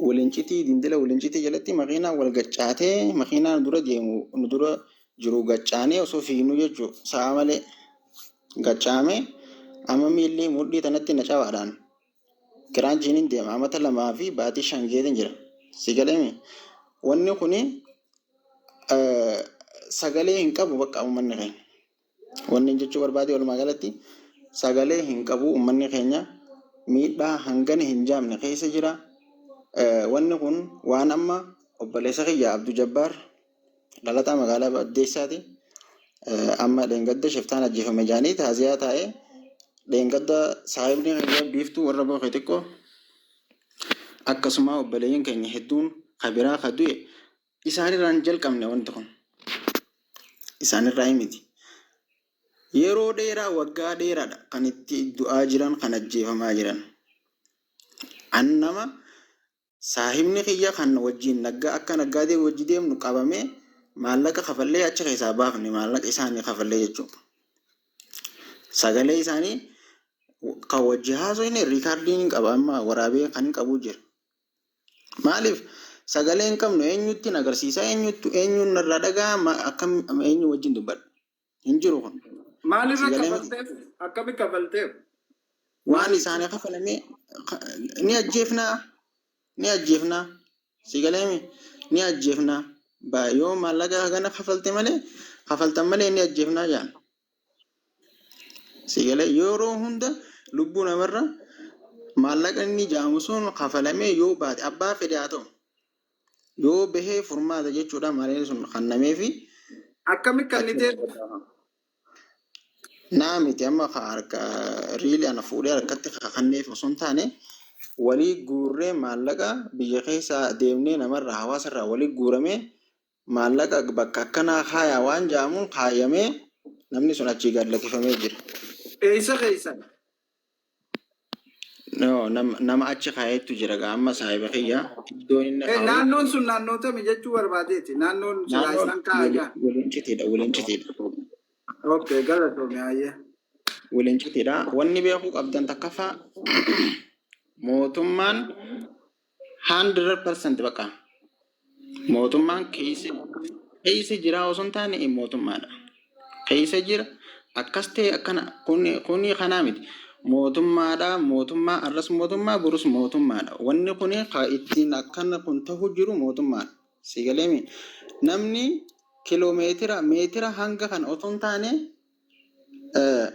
walincitii dindila walincitii jalatti makiinaan wal gaccaatee makiinaa nu dura deemu nu dura jiru gaccaanee osoo fiignuu jechuudha. Sa'a malee gaccaamee amma miilli mudhii tanatti na cabaadhaan. Kiraan jiiniin deema. Amata lamaa fi baatii shan geetiin jira. Si galeemi? Wanni kuni eh, sagalee hin qabu bakka uummanni keenya. Wanni hin jechuu barbaade walumaa galatti sagalee hin qabu uummanni keenya miidhaa hangana hin jaamne keessa jira. Eh, Wanni kun waan amma obboleessa kiyya Abdu Jabbaar Dhalataa magaalaa Baddeessaati. Amma dheengadda shiftaan ajjeefame jedhanii taaziyaa taa'ee dheengadda saahibni kiyya biiftuu warra bookee xiqqoo akkasumaa obboleeyyiin keenya hedduun ka biraa ka du'e isaanirraa hin jalqabne wanti kun isaanirraa himiti. Yeroo dheeraa waggaa dheeraadha kan itti du'aa jiran kan ajjeefamaa jiran. An nama Saahibni kiyya kan wajjiin nagga akka naggaadee wajji deemnu qabamee maallaqa kafallee achi keessaa baafne maallaqa isaanii kafallee jechuu. Sagalee isaanii kan wajji haasofne riikaardiin hin qaba amma waraabee kan hin qabu jira. Maaliif sagalee hin qabnu eenyutti hin agarsiisa eenyutti eenyuun irraa dhaga'a akkam eenyu wajjin dubbadha. hin jiru kun Maalirra Sagalee- kafalteef? Akkami kafalteef? waan isaanii kafalame ka- ni ajjeefnaa ni ajjeefnaa sigaleemi ni ajjeefnaa Ba- yoo maallaqa hagana kafalte malee kafaltan malee ni ajjeefnaa jaan sigalee yeroo hunda lubbuu namarra maallaqa inni jaamu sun kafalamee yoo baate abbaa fedhe haa ta'u Yoo bahee furmaata jechuudha mareen sun kannameefi. Akkami kannitee? Naa miti amma ka harka riili ana fuudhee harkatti kakanneef osoo hin taane walii guurree maallaqa biyya keessaa deemnee namarraa hawaasarraa walii guuramee Maallaqa bakka akkanaa kaayaa waan ja'amuun kaayamee namni sun achii gad lakifamee jira. Eessa keessan? Yoo, nam, nama achi kaayeettu jira gaa amma saahiba kiyya iddoon inni Eh, kaa'u naannoon sun naannoo tami jechuu barbaadeeti? Naannoon silaa naannoon isaan wili- kaa'aja. wilincitiidha wilincitiidha Okay, galatoomi hayyee. wilincitiidha wanni beekuu qabdan takkaffaa mootummaan 100% bakka mootummaan keessa keessa jiraa osoo hin taane eh, mootummaadha. Keessa jira akkas ta'e akkana kuni kuni kanaa miti. Mootummaadha mootummaa arras mootummaa borus mootummaadha. Wanni kuni ka ittiin akkana kun ta'u jiru mootummaadha. Si galeemi namni kiloomeetira meetira hanga kana osoo hin taane Eh,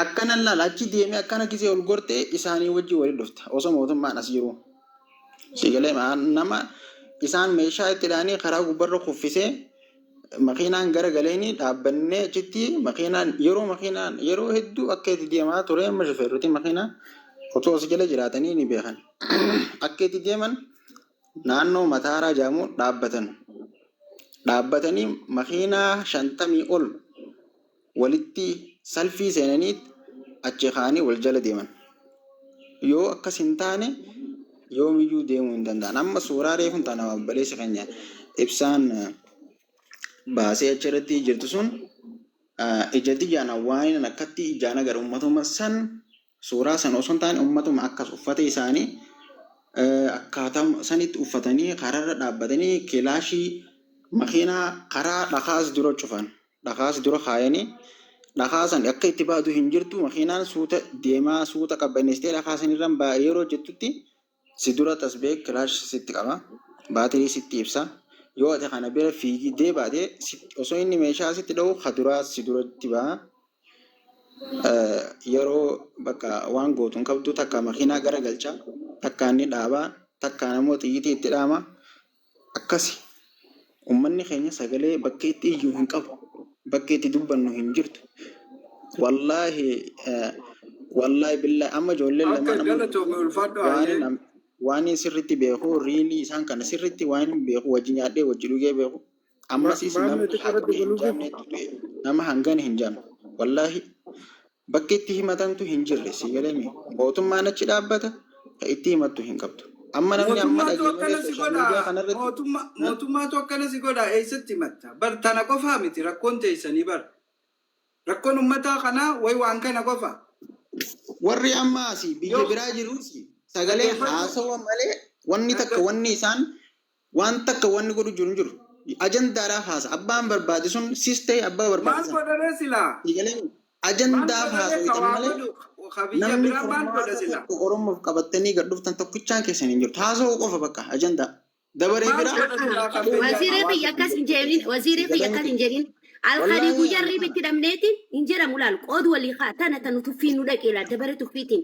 Akkana laal achi deemee akkana gisee ol gortee isaanii wajjin walitti dhufta. Osoo mootummaan as jiruu. Siigalee nama isaan meeshaa itti dhaanii karaa gubbarra kuffisee makiinaan gara galeeni dhaabbannee achitti makiinaan yeroo makiinaan yeroo hedduu akka itti deemaa ture amma shufeerroti makiinaa otoo as jala jiraatanii ni beekan. Akka itti deeman naannoo Mataaraa jedhamu dhaabbatan. Dhaabbatanii makiinaa shantamii ol walitti salfii seenanii achi kaanii wal jala deeman. Yoo akkas hin taane yoomiyyuu deemuu hin danda'an. Amma suuraa reefun tana obboleessi keenya ibsaan baasee achirratti jirtu sun ija tiyyaana waanan akkatti ijaan agar uummatuma san Suuraa sana osoo hin taane ummatuma akkas uffata isaanii akkaataa sanitti uffatanii karaarra dhaabbatanii kilaashii makiinaa karaa dhakaas dura cufan. Dhakaas dura kaayanii dhakaa san akka itti baatu hin jirtu makiinaan suuta deemaa suuta qabbaneessitee dhakaa sanirran baa'e yeroo jettutti Si dura tasbee kilaash sitti qaba. Baatirii sitti ibsa. Yoo ati kana bira fiigdee baate sitti osoo inni meeshaa sitti dha'u ka duraa si duratti baha. Eh, Yeroo bakka waan gootu hin qabdu takka makiinaa gara galcha takka inni dhaaba takkaan ammoo xiyyitii itti dhaama. Akkasi. Ummanni keenya sagalee bakka itti iyyu hin qabu. Bakki itti dubbannu hin jirtu. Wallaahi Wallaahi billaahi amma ijoolleen lamaan Akka amma galatoomi ulfaadhu waanin hayyee. am- waanin sirritti beeku riilii isaan kana sirritti waanin beeku wajji nyaadhee wajji dhugee beeku Ma- ammasis Maamila nama xiqqoo irratti hagana hin dabaluufi? jaamneetti du'e nama hangana hin jaamne wallaahi Bakki itti himatantu hin jirre sii galemi mootummaan achi dhaabbata ka itti himattu hin qabdu amma namni amma Mootummaatu dhageenye akkana si social media godha. kana irratti Mootumma, ha? mootummaatu akkana si godha. Eessatti himatta? Bar tana qofaa miti rakkoon teessanii bar. Rakkoon ummataa kanaa way waan kana qofa. warri amma asii biyya Yoo biraa jiruus sagalee dhaggeeffadhu, haasawa malee wanni takka dhaggeeffadhu. wanni isaan Waan takka wanni godhu jiru hin jiru. Ajandaadhaaf haasa. Abbaan barbaade sun sis ta'e abbaa barbaade Maal sana. godha ree silaa? Sii galee Maal ajandaaf godha ree ka haasawatan waa malee godhu ka biyya namni biraa maal godha furmaata silaa? tokko Oromoof qabattanii gad dhuftan tokkichaan keessan hin jirtu. Haasawuu qofa bakka ajandaa. Dabaree Maal biraa godha silaa ka biyya Wasiiree hawaasa kiyya akkas hin biyya jedhin. keessa. Wasiiree Sii kiyya galee akkas hin miti. jedhin. Alkadii Wallaahi guyyaa ani riiba kana. itti dhabneetiin hin jedhamu laal qood walii haa tana tanu tuffii nu dhaqee laal dabaree tuffiitiin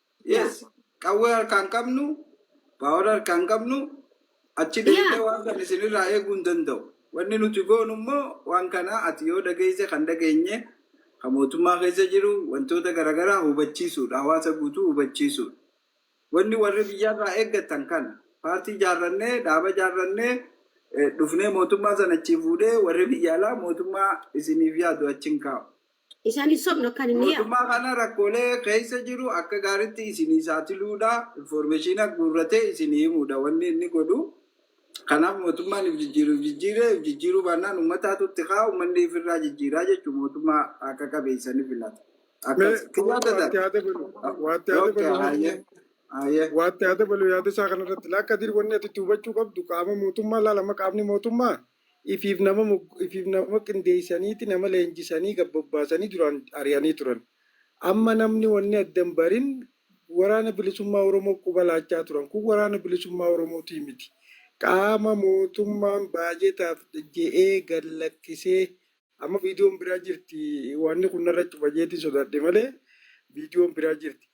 Yes, qawwee harkaan qabnu, power harkaan qabnu, achi Yeah. deemnee waan kan isinirraa eeguu hin danda'u. Wanni nuti goonu immoo waan kana ati yoo dhageesse kan dhageenye kan mootummaa keessa jiru wantoota garaagaraa hubachiisuudha. Hawaasa guutuu hubachiisuudha. Wanni warri biyyarraa eeggatan kana paartii jaarrannee dhaaba jaarrannee eh, dhufnee mootummaa sana achi fuudhee warri biyya alaa mootummaa isiniif yaadu achi hin kaa'u. Isaan hin sobnu akka inni yaa. Mootummaa kana rakkoolee keessa jiru akka gaaritti isinii saaxiluudha, informeeshiina guurratee isinii himuudha wanni inni godhu. Kanaaf mootummaan if jijjiiru if jijjiire, if jijjiiruu baannaan uummataatu itti ka'a, uummanni if irraa jijjiiraa jechuun mootummaa haqa qabeessa ni filata. Mee Akkas. wa- Kiyyaa waatti tataan. haa dabalu waatti haa Okay, dabalu hayyee. Hayyee. waatti haa dabalu yaada isaa kanarratti laakka dir wanni ati itti hubachuu qabdu qaama mootummaa laalama qaamni mootummaa ifiif nama mogg ifiif nama qindeessaniiti nama leenjisanii gad bobbaasanii duraan ari'anii turan. Amma namni wanni adda hin barin Waraana Bilisummaa Oromoof quba laachaa turan. Kun Waraana Bilisummaa Oromootii miti. Qaama mootummaan baajetaaf je'ee gad lakkisee Amma viidiyoon biraa jirti wanni kun narra cufa jeetiin sodaadhe malee viidiyoon biraa jirti.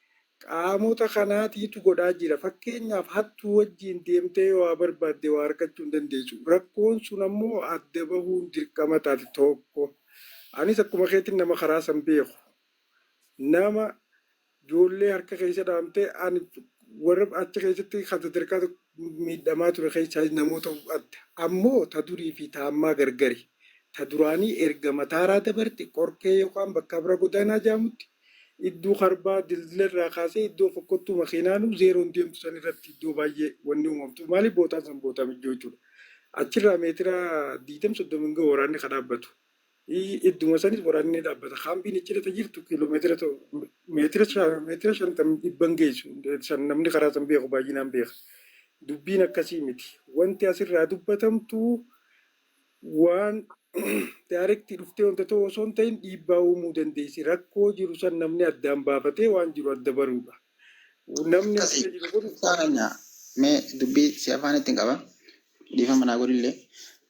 Qaamota kanaatiitu godhaa jira. Fakkeenyaaf hattuu wajjiin deemtee yoo waa barbaadde waa argachuu hin dandeessu. Rakkoon sun ammoo adda bahuun dirqama taati tokko. Anis akkuma keetiin nama karaa san beeku. Nama Ijoollee harka keessa dhaamte ani warra achi keessatti kan sadarkaa miidhamaa ture keessaa namoota adda. Ammoo ta durii fi ta ammaa gargari. Ta duraanii erga Mataaraa dabarte Qorkee yookaan bakka Abra Godaanaa jedhamutti iddoo Karbaa dildila irraa kaasee iddoo fokkottuu makiinaanuu zeeroon deemtu san irratti iddoo baay'ee wanni uumamtu. Maaliif bootaan san bootaa mijjoo jechuudha. Achirraa meetira 20-30 hin gahu waraanni ka dhaabbatu. Idduma sanis waraanni ni dhaabbata. Kaampiin icciirratti jirtu kiiloomeetira meetira meetira shantam dhibban geessu san namni karaa san beeku baay'inaan beeka. Dubbiin akkasii miti. Wanti asirraa dubbatamtu waan daarektii dhuftee wanta ta'u osoo hin ta'in dhiibbaa uumuu dandeessi. Rakkoo jiru san namni addaan baafatee waan jiru adda baruudha. Namni Akkasii. addaan jiru kun Ibsaa keenya mee dubbii si afaan ittiin qaba. Dhiifama naa godhillee.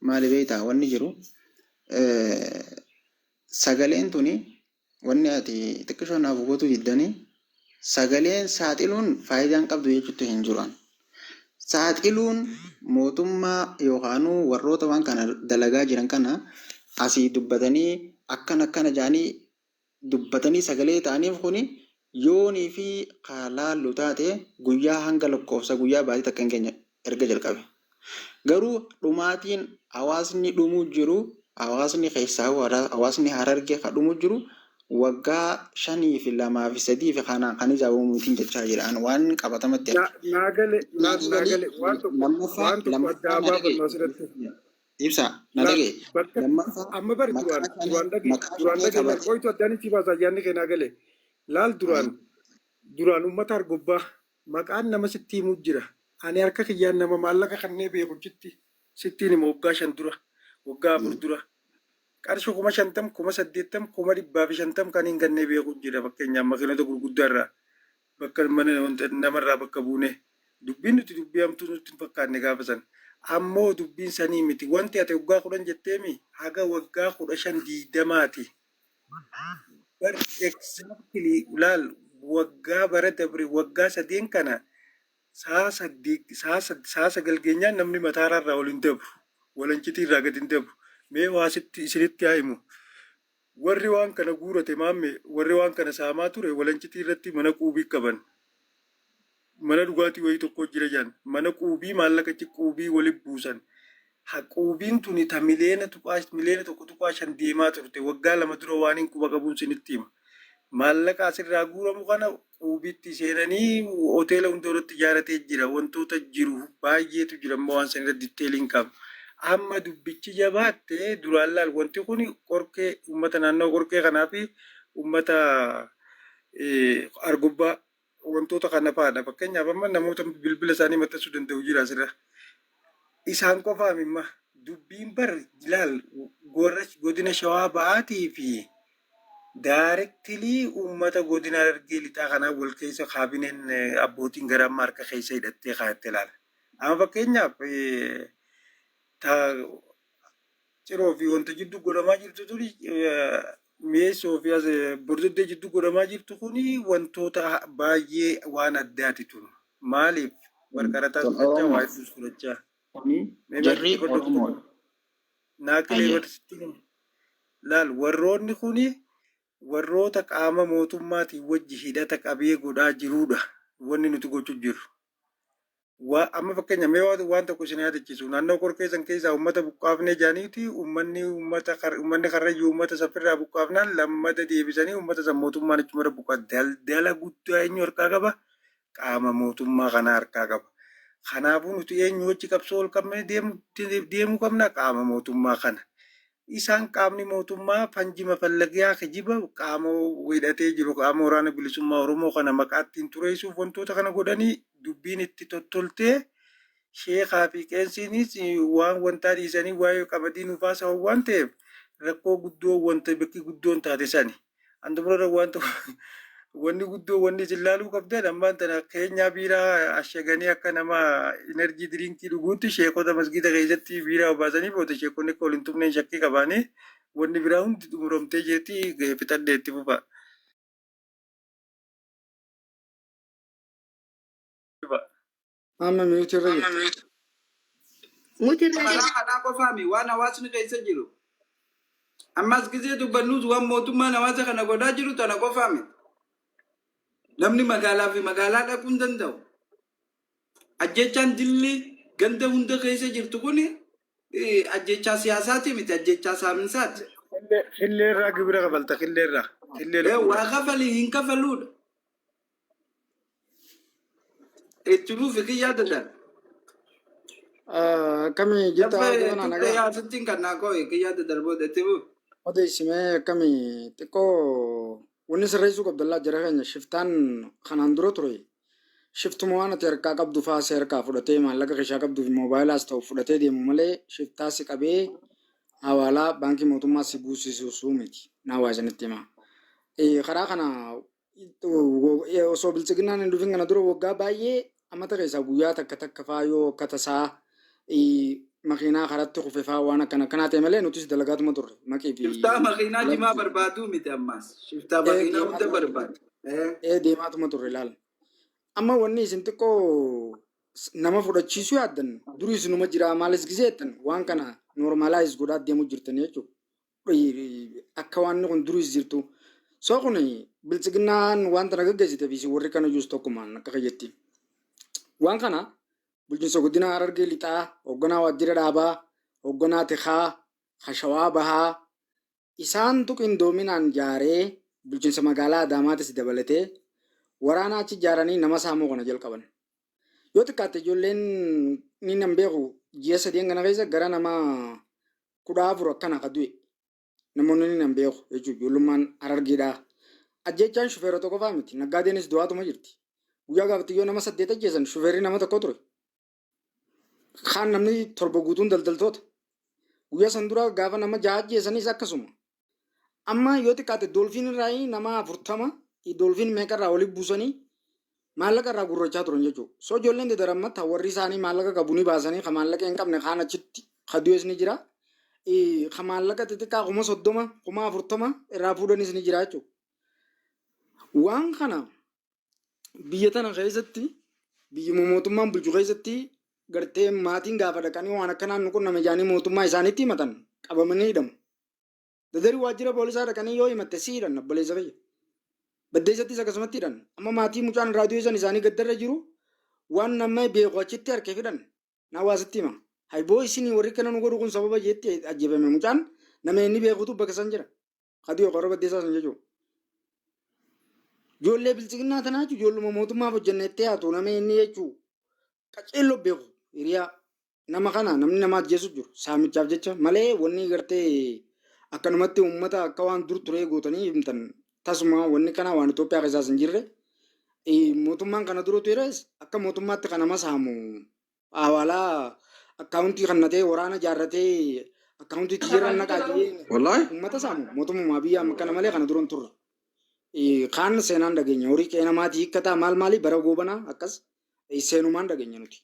Maali beektaa wanni jiru Sagaleen tuni wanni ati xiqqishoo naaf hubatuu diddanii sagaleen saaxiluun faayidaa hin qabdu jechuutti hin jiru. Saaxiluun mootummaa yookaanuu warroota waan kana dalagaa jiran kana asii dubbatanii akkana akkana jedhanii dubbatanii sagalee ta'aniif kuni yoonii fi ka laallu taate guyyaa hanga lakkoofsa guyyaa baatii takka hin geenye erga jalqabe. Garuu dhumaatiin hawaasni dhumuu jiru hawaasni keessaahuu hawaasni Harargee ka dhumuu jiru waggaa shanii fi lamaa fi sadii fi kanaan kan ijaabamu mitiin jechaa jira an waan qabatamatti arge. Naagale naagale waan tokko waan tokko addaa baafannu asirratti. Ibsa na Laal dhaga'i. bakka Lammaffaa amma bari duraan maqaa shanee duraan dhagee maqaa duraan shanee dhagee laal kabajee qoytu addaan itti baasa ayyaanni keenaa galee laal duraan Ayi, duraan uummata argobbaa maqaan nama sitti himu jira ani harka kiyyaan nama maallaqa kannee beeku jitti sittiin hima waggaa shan dura waggaa afur mm, dura qarshii kuma shantam kuma saddeettam kuma dhibbaa fi shantam kan hin kannee beeku jira fakkeenyaaf makiinota gurguddaa irraa bakka mana wanta namarraa bakka buune dubbiin nuti dubbii hamtuu nutti hin fakkaanne gaafa san ammoo dubbiin sanii miti wanti ati waggaa kudhan jetteemi haga waggaa kudha shan diigdamaati bar exactly laal waggaa bara dabre waggaa sadeen kana sa'a saddeet sa'a sad sa'a sagal geenyaan namni mataaraa irraa ol hin dabru walancitii irraa gad hin dabru mee waasitti isinitti haa himu Warri waan kana guurate maamme warri waan kana saamaa ture walancitii irratti mana quubii qaban mana dhugaatii wayii tokkoo jira jedhan mana quubii maallaqa achi quubii wali buusan ha quubiin tuni ta miliyeena tuqaa miliyeena tokko tuqaa shan deemaa turte waggaa lama dura waanin quba qabuun sinitti hima maallaqa asirraa guuramu kana Quubitti seenanii hoteela hunda irratti ijaaratee jira. Wantoota jiru baay'eetu jira amma waan san irra detail hin qabu. Amma dubbichi jabaatte duraan laal wanti kun qorkee uummata naannoo qorkee kanaa fi uummata eh, argubbaa wantoota kana fa'aadha. Fakkeenyaaf amma namoota bilbila isaanii maxxansuu danda'u jira asirra. isaan qofaa mimma dubbiin bar laal warra godina shawaa bahaatii fi daarektilii uummata godina harargee lixaa kanaa wal keessa kaabineen eh, abbootiin gara amma harka keessa hidhattee kaayatte laala. Amma fakkeenyaaf eh, ta ciroo fi wanta jiddu godhamaa jirtu tuni mi'eessoo fi as bordoddee jiddu godhamaa jirtu kuni wantoota baay'ee waan addaati tun maaliif warqarataa Tun fudhachaa waa Oromoo. hedduus fudhachaa Kuni mee jarri barsiitti fadhatu tokko Oromoodha. naaqilee Hayyee. barsiitti himi. laal warroonni kuni warroota qaama mootummaatiin wajji hidhata qabee godhaa jiruudha wanni nuti gochuu jirru Waa amma fakkeenya mee waan waan tokko isin yaadachiisu naannoo qorkee san keessaa uummata buqqaafnee jaaniiti uummanni uummata kar- uummanni karrayyuu uummata safirraa buqqaafnaan lammada deebisanii uummata san mootummaan achumarra buqqaa daldala guddaa eenyu harkaa qaba qaama mootummaa kana harkaa qaba. Kanaafuu nuti eenyu wajji qabsoo ol qabnee deemu deemuu qabna qaama mootummaa kana. Isaan qaamni mootummaa fanji mafallagiyaa kijiba qaama wbo hidhatee jiru qaama waraana bilisummaa Oromoo kana maqaa ittiin xureessuuf wantoota kana godhani dubbiin itti tottoltee sheekaa fi qeensiinis waan wantaa dhiisanii waa'ee qabadii nuuf haasa'an waan ta'eef rakkoo guddoo wanta bakki guddoon taate sani. An dubrarra waan tokko wanni guddoo wanni isin laaluu qabdan ammaan tana keenyaa biiraa ashaganii akka nama enerjii diriinkii dhuguutti sheekota masgiida keessatti biiraa obaasanii booda sheekonni akka wal hin tumneen shakkii qabaanii wanni biraa hundi xumuramtee jirti fixadhee itti fufa. Amma miyuutii irra jirta. Muti irra Karaa jirti. kanaa qofaami waan hawaasni keessa jiru. Ammas gisee dubbannus waan mootummaan hawaasa kana godhaa jiru tana qofaami. Namni magaalaa fi magaalaa dhaquu hin danda'u. Ajjechaan dilli ganda hunda keessa jirtu kun ajjechaa siyaasaati miti ajjechaa saaminsaati. Killee irraa gibira kafalta killee irraa. Killee Eh, lukkuu Waa irraa. kafali hin kafaluudha. Itti fufi kiyyaa dadaan. Akkami jirta Dafa haala kana turte nagaa? yaa sittiin kan naa koo kiyyaa dadaan booda itti fufi. Odeessimee akkami xiqqoo wanni sirreessuu qabdallaa jara keenya shiftaan kanaan dura ture. Shiftuma waan ati harkaa qabdu fa'aa si harkaa fudhatee maallaqa keessaa qabduuf moobaayilaa ta'u fudhatee deemu malee shiftaa si qabee hawaalaa baankii mootummaa si buusisuusuu miti. Naa waa isinitti himaa. Eh, Karaa kana osoo bilchiginnaan hin dhufin kana dura waggaa baay'ee ammata keessaa guyyaa takka takka faa yoo akka tasaa makiinaa karatti kufe faa waan akkana akkanaa ta'e malee nutis dalagaatuma turre maqii fi Shiftaa makiinaa jimaa barbaaduu miti ammaas. Shiftaa makiinaa hunda barbaadu. ee deemaatuma turre laal. Amma wanni isin xiqqoo nama fudhachiisuu yaaddan durii isinuma jiraa maalis gisee jettan waan kana noormaalaayis godhaa deemuu jirtan jechuudha. Akka waanni kun duriis jirtu. Soo kun biltsiginnaan waan tana gaggeessite fi warri kana iyyuus tokkumaan akka kiyyetti. Waan kana bulchiinsa godina Harargee lixaa hoogganaa waajjira dhaabaa hoogganaa tikaa hashawaa bahaa isaantu qindoominaan jaaree bulchiinsa magaalaa Adaamaatis dabalatee waraanaa achi jaaranii nama saamuu kana jalqaban. Yoo xiqqaatte ijoolleen ni nan beeku ji'a sadeen kana keessa gara nama kudha afur akkana ka du'e namoonni inni nan beeku jechuun ijoollummaan harargeedhaa. Ajjeechaan shufeerota qofaa miti naggaadeenis du'aatuma jirti. Guyyaa gaafatti yoo nama saddeet ajjeesan shufeerri nama tokko ture. Kaan namni torba guutuun daldaltoota. Guyyaa san dura gaafa nama jaha ajjeesanis akkasuma. Amma yoo xiqqaate doolfiin irraa nama 40 doolfiin meeqa irraa walitti buusanii maallaqa irraa gurrachaa turan jechuudha. So ijoolleen dedar amma ta warri isaanii maallaqa qabu ni baasanii ka maallaqa hin qabne kaan achitti ka du'es ni jira. Eh, Ka maallaqa xixiqqaa kuma 30 kuma 40 irraa fuudhanis ni jira jechuudha. Waan kana biyya tana keessatti biyyuma mootummaan bulchu keessatti gartee maatiin gaafa dhaqanii waan akkanaan nu qunname jedhanii mootummaa isaaniitti himatan qabamanii hidhamu. Dadarii waajjira poolisaa dhaqanii yoo himatte si hidhan obboleessa kiyya. Baddeessattis akkasumatti hidhan. Amma maatii mucaan raadiyoo san isaanii gaddarra jiru waan nama beeku achitti harkee fidhan. Naa waa sitti hima. Hayboo isinii warri kana nu godhu kun sababa jeetti ajjeefame mucaan nama inni beekutu bakka san jira. Kadiyoo qorra baddeessaa san jechuudha. Ijoollee bilchiginnaa tanaa jechuun ijoolluma mootummaaf hojjenna itti haatu nama inni jechuun qaceelloo beeku hiriyaa Nama kana namni nama ajjeesu jiru saamichaaf jecha malee wanni gartee akkanumatti uummata akka waan dur turee gootanii himtan tasuma wanni kana waan Itoophiyaa keessaas hin jirre mootummaan kana dura tures akka mootummaatti kan nama saamu haawaalaa akkaawuntii kannatee waraana jaarratee akkaawuntii jijjiirraan naqaa jedhee Wallaahi. uummata saamu mootummaa biyya amma kana malee kana dura hin turre. Kaan seenaan dhageenya horii qe'ee namaatii hiikkataa maal maalii bara goobanaa akkas seenumaan dhageenya nuti.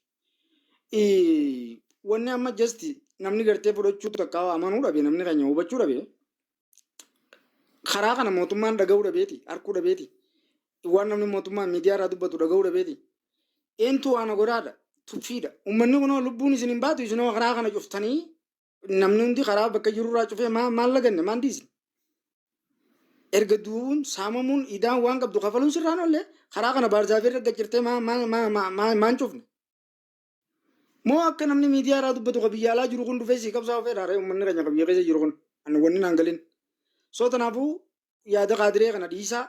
Ii, wanni amma just namni gartee fudhachuu takka amanuu dhabe namni keenya hubachuu dhabe karaa kana mootummaan dhaga'uu dhabeeti harkuu dhabeeti waan namni mootummaa miidiyaa irraa dubbatu dhaga'uu dhabeeti eentu waana godhaadha tuffiidha ummanni kunoo lubbuun isin hin baatu isinoo karaa kana cuftanii namni hundi karaa bakka jirurraa cufee maa maal laganne maan dhiisne erga du'uun saamamuun idaan waan qabdu kafaluun sirraan ollee karaa kana baarzaafii irra gajjirtee maa maa maa maa maa maan cufne moo akka namni miidiyaa irraa dubbatu ka biyya alaa jiru kun dhufee sii qabsaa ofee dhaaree uummanni keenya ka biyya keessa jiru kun ani wanni naan galin soo tanaafuu yaada kaadiree kana dhiisaa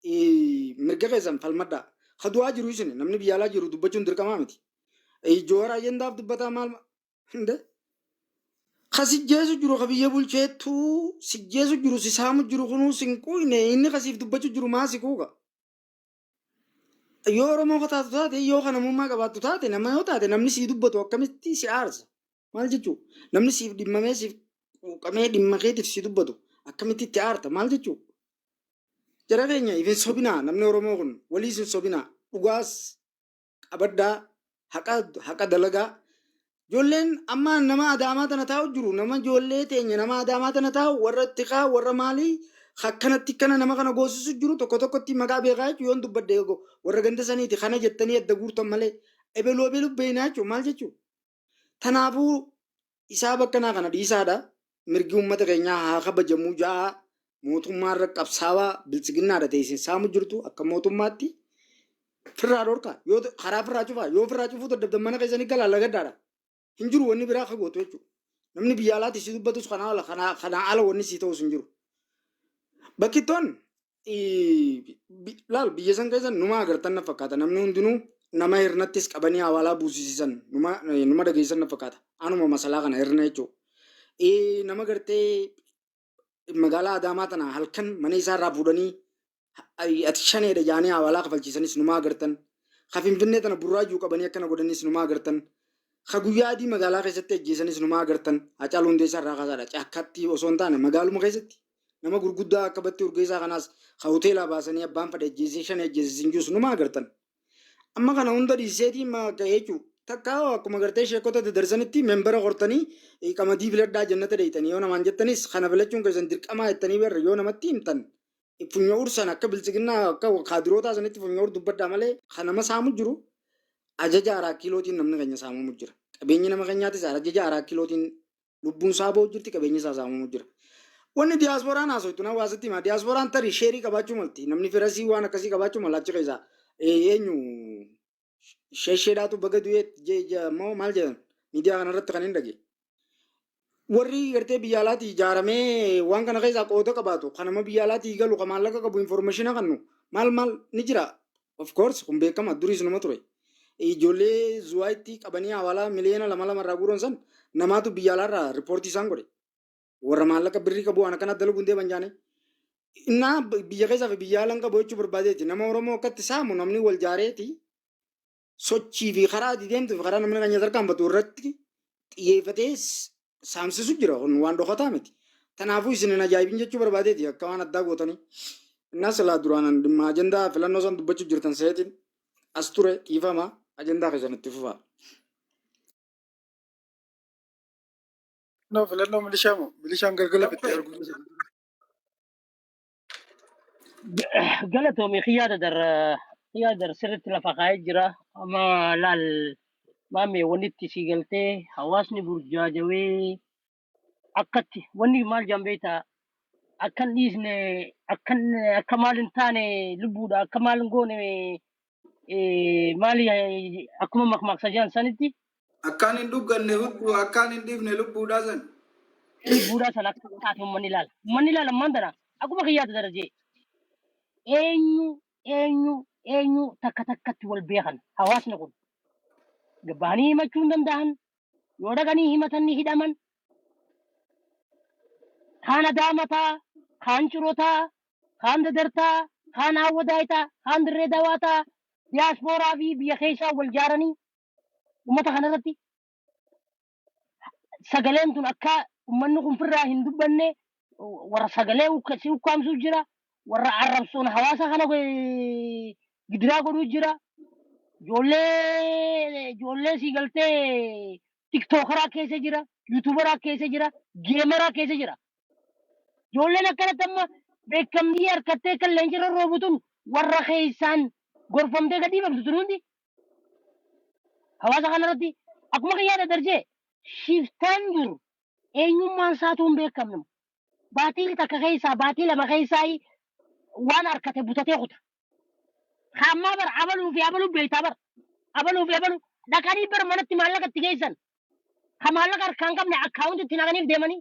ii, mirga keessan falmadhaa. Ka du'aa jiru isin namni biyya alaa jiru dubbachuun dirqamaa miti. Ii, Joohar ajandaaf dubbataa maal ma- hinde? Ka sijjeesu jiru ka biyya bulcheettu sijjeesu jiru si saamu jiru kunuu sin quuqne inni ka siif dubbachu jiru maa si quuqa. Yoo Oromoo ka taatu taate yoo ka namummaa qabaattu taate nama yoo taate namni sii dubbatu akkamitti si aarsa. Maal jechuu? Namni siif dhimmamee siif quuqamee dhimma keetiif si dubbatu akkamitti itti aarta maal jechuu? Jara keenya ifin sobinaa namni Oromoo kun walii isin sobinaa dhugaas qabaddaa haqa haqa dalagaa ijoolleen amma nama adaamaa tana taa'u jiru nama ijoollee teenya nama adaamaa tana taa'u warra tikaa warra maalii akkanatti kana nama kana goosisu jiru tokko tokkotti maqaa beekaa jechuun yoon dubbadde go- warra ganda saniiti kana jettanii adda guurtan malee ebelu ebelu beeynaa jechuun maal jechuun Tanaafuu isaa bakkanaa kana dhiisaadha mirgi uummata keenyaa haa kabajamuu ja'aa mootummaa irra qabsaawaa biltsiginnaadha ta'e isin saamu jirtu akka mootummaatti firraa dhorkaa yoo ta- karaa firraa cufaa yoo firraa cufuu dadhabdan mana keessanii galaa lagaddaadha hin jiru wanni biraa akka gootu jechuudha. Namni biyya alaatti si dubbatus kanaa ala kanaa kanaa ala wanni si ta'us hin jiru. Bakkittoon laal biyya san keessa numa agartan na fakkaata namni hundinuu nama hirnattis qabanii hawaalaa buusisisan numa numa dhageessan na fakkaata anuma masalaa kana hirna jechuudha. Nama gartee magaalaa Adaamaa tana halkan mana isaa irraa fuudhanii ati shaneedha jaanii hawaalaa kafalchiisanis numa agartan. Ka Finfinnee tana burraajuu qabanii akkana godhanis numa agartan. Ka guyyaa adii magaalaa keessatti ajjeesanis numa agartan. Hacaaluu Hundeessaa irraa kaasaadha. Caakkaatti osoo hin taane magaaluma keessatti Nama gurguddaa akka Battii Urgeessaa kanaas ka hoteelaa baasanii abbaan fadhe ajjeesee shan ajjeese siin jiru sunuma agartan. Amma kana hunda dhiiseetii ma akka jechu takka hoo akkuma gartee sheekota dadarsanitti membara qortanii eh, qamadii filadhaa jannata deeytanii yoo namaan jettanis kana filachuun keessan dirqamaa jettanii barra yoo namatti himtan eh, funya ursan akka biltsiginnaa akka kaadirootaa sanitti funya ur dubbadhaa malee kan nama saamu jiru ajaja araa kiilootiin namni keenya saamamu jira. Qabeenyi nama keenyaatis ajaja araa kiilootiin Lubbuun isaa ba'u jirti, qabeenyi isaa saamamu jira. Wanni diyaaspooraan haasoftu na waa sitti hima. Diyaaspooraan tarii sheerii qabaachuu malti. Namni firasii waan akkasii qabaachuu mala achi keessaa. Eh, Eenyu shesheedhaatu baga du'eet je- je- moo maal jedhan miidiyaa kanarratti kan hin dhage. Warri gartee biyya alaatii ijaaramee waan kana keessaa qooda qabaatu kan nama biyya alaatii galu kan maallaqa qabu informeeshina kannu maal maal ni jira. Of course kun beekama duriis numa ture. Ijoollee zuwaayitti qabanii hawaalaa miliyoona lama lama irraa guuran san namaatu biyya alaa irraa riippoortii isaan godhe. Warra maallaqa birrii qabu waan akkana dalaguun deeman jaane. Innaa biyya keessaa fi biyya alaan qabu jechuu barbaadeeti. Nama Oromoo akkatti saamu namni wal jaareeti sochii fi karaa ati deemtu fi karaa namni kan nyaata harkaan batu irratti xiyyeeffatee saamsisu jira kun waan dhokataa miti. Tanaafuu isin hin ajaa'ibin jechuu barbaadeeti akka waan addaa gootanii. Innaa silaa duraanan dhimma ajandaa filannoo san dubbachuu jirtan seetiin as ture dhiifama ajandaa keessan itti fufaa. Filannoo filannoo milishaa moo milishaan galgala bitti arguu Galatoomi kiyyaa dadar kiyyaa dadar sirriitti lafa kaa'ee jira. Amma laal maamee walitti sii galtee hawaasni burjaajawee akkatti wanni maal jaan beektaa akkan dhiisne akkan akka maal hin taane lubbuudha akka maal hin goone eh, maali eh, akkuma makmaaksa jiran sanitti Akkaan hin dhugganne hudduu akkaan hin dhiifne lubbuudhaa san. lubbuudhaa sana akka taate uummanni ilaala. Uummanni ilaala ammaan tana akkuma kiyyaata darajee eenyu eenyu eenyu takka takkatti wal beekan hawaasni kun gabbahanii himachuu hin danda'an yoo dhaqanii himatan ni hidhaman kaan adaamataa kaan cirotaa kaan dadar ta'a, kaan aawwadaay ta'a, kaan dirree dawaa ta'a. Diyaaspooraa fi biyya keessaa wal jaaranii ummata kana irratti sagaleen tun akka ummanni kun firraa hin dubbanne warra sagalee ukka- si ukkaamsuu jira, warra arrabsoon hawaasa kana eh, gidiraa godhuu jira. Ijoollee ijoollee sii galtee tiktookaraa keessa jira, yuutuubaraa keessa jira, geemaraa keessa jira. Ijoolleen akkanatti amma beekamtii harkattee kan leencirra roobu tun warra keessaan gorfamtee gad dhiifamtu tun hundi hawaasa kanarratti akkuma kan yaada darjee shiftaan jiru eenyummaan isaatu hin beekamne. Baatiin takka keessaa baatii lama keessaa waan harkate butatee kuta. Kaammaa bar abaluu fi abaluu beektaa bar abaluu fi abaluu dhaqanii bar manatti maallaqa itti geessan. Ka maallaqa harkaan qabne akkaawunti itti naqaniif deemanii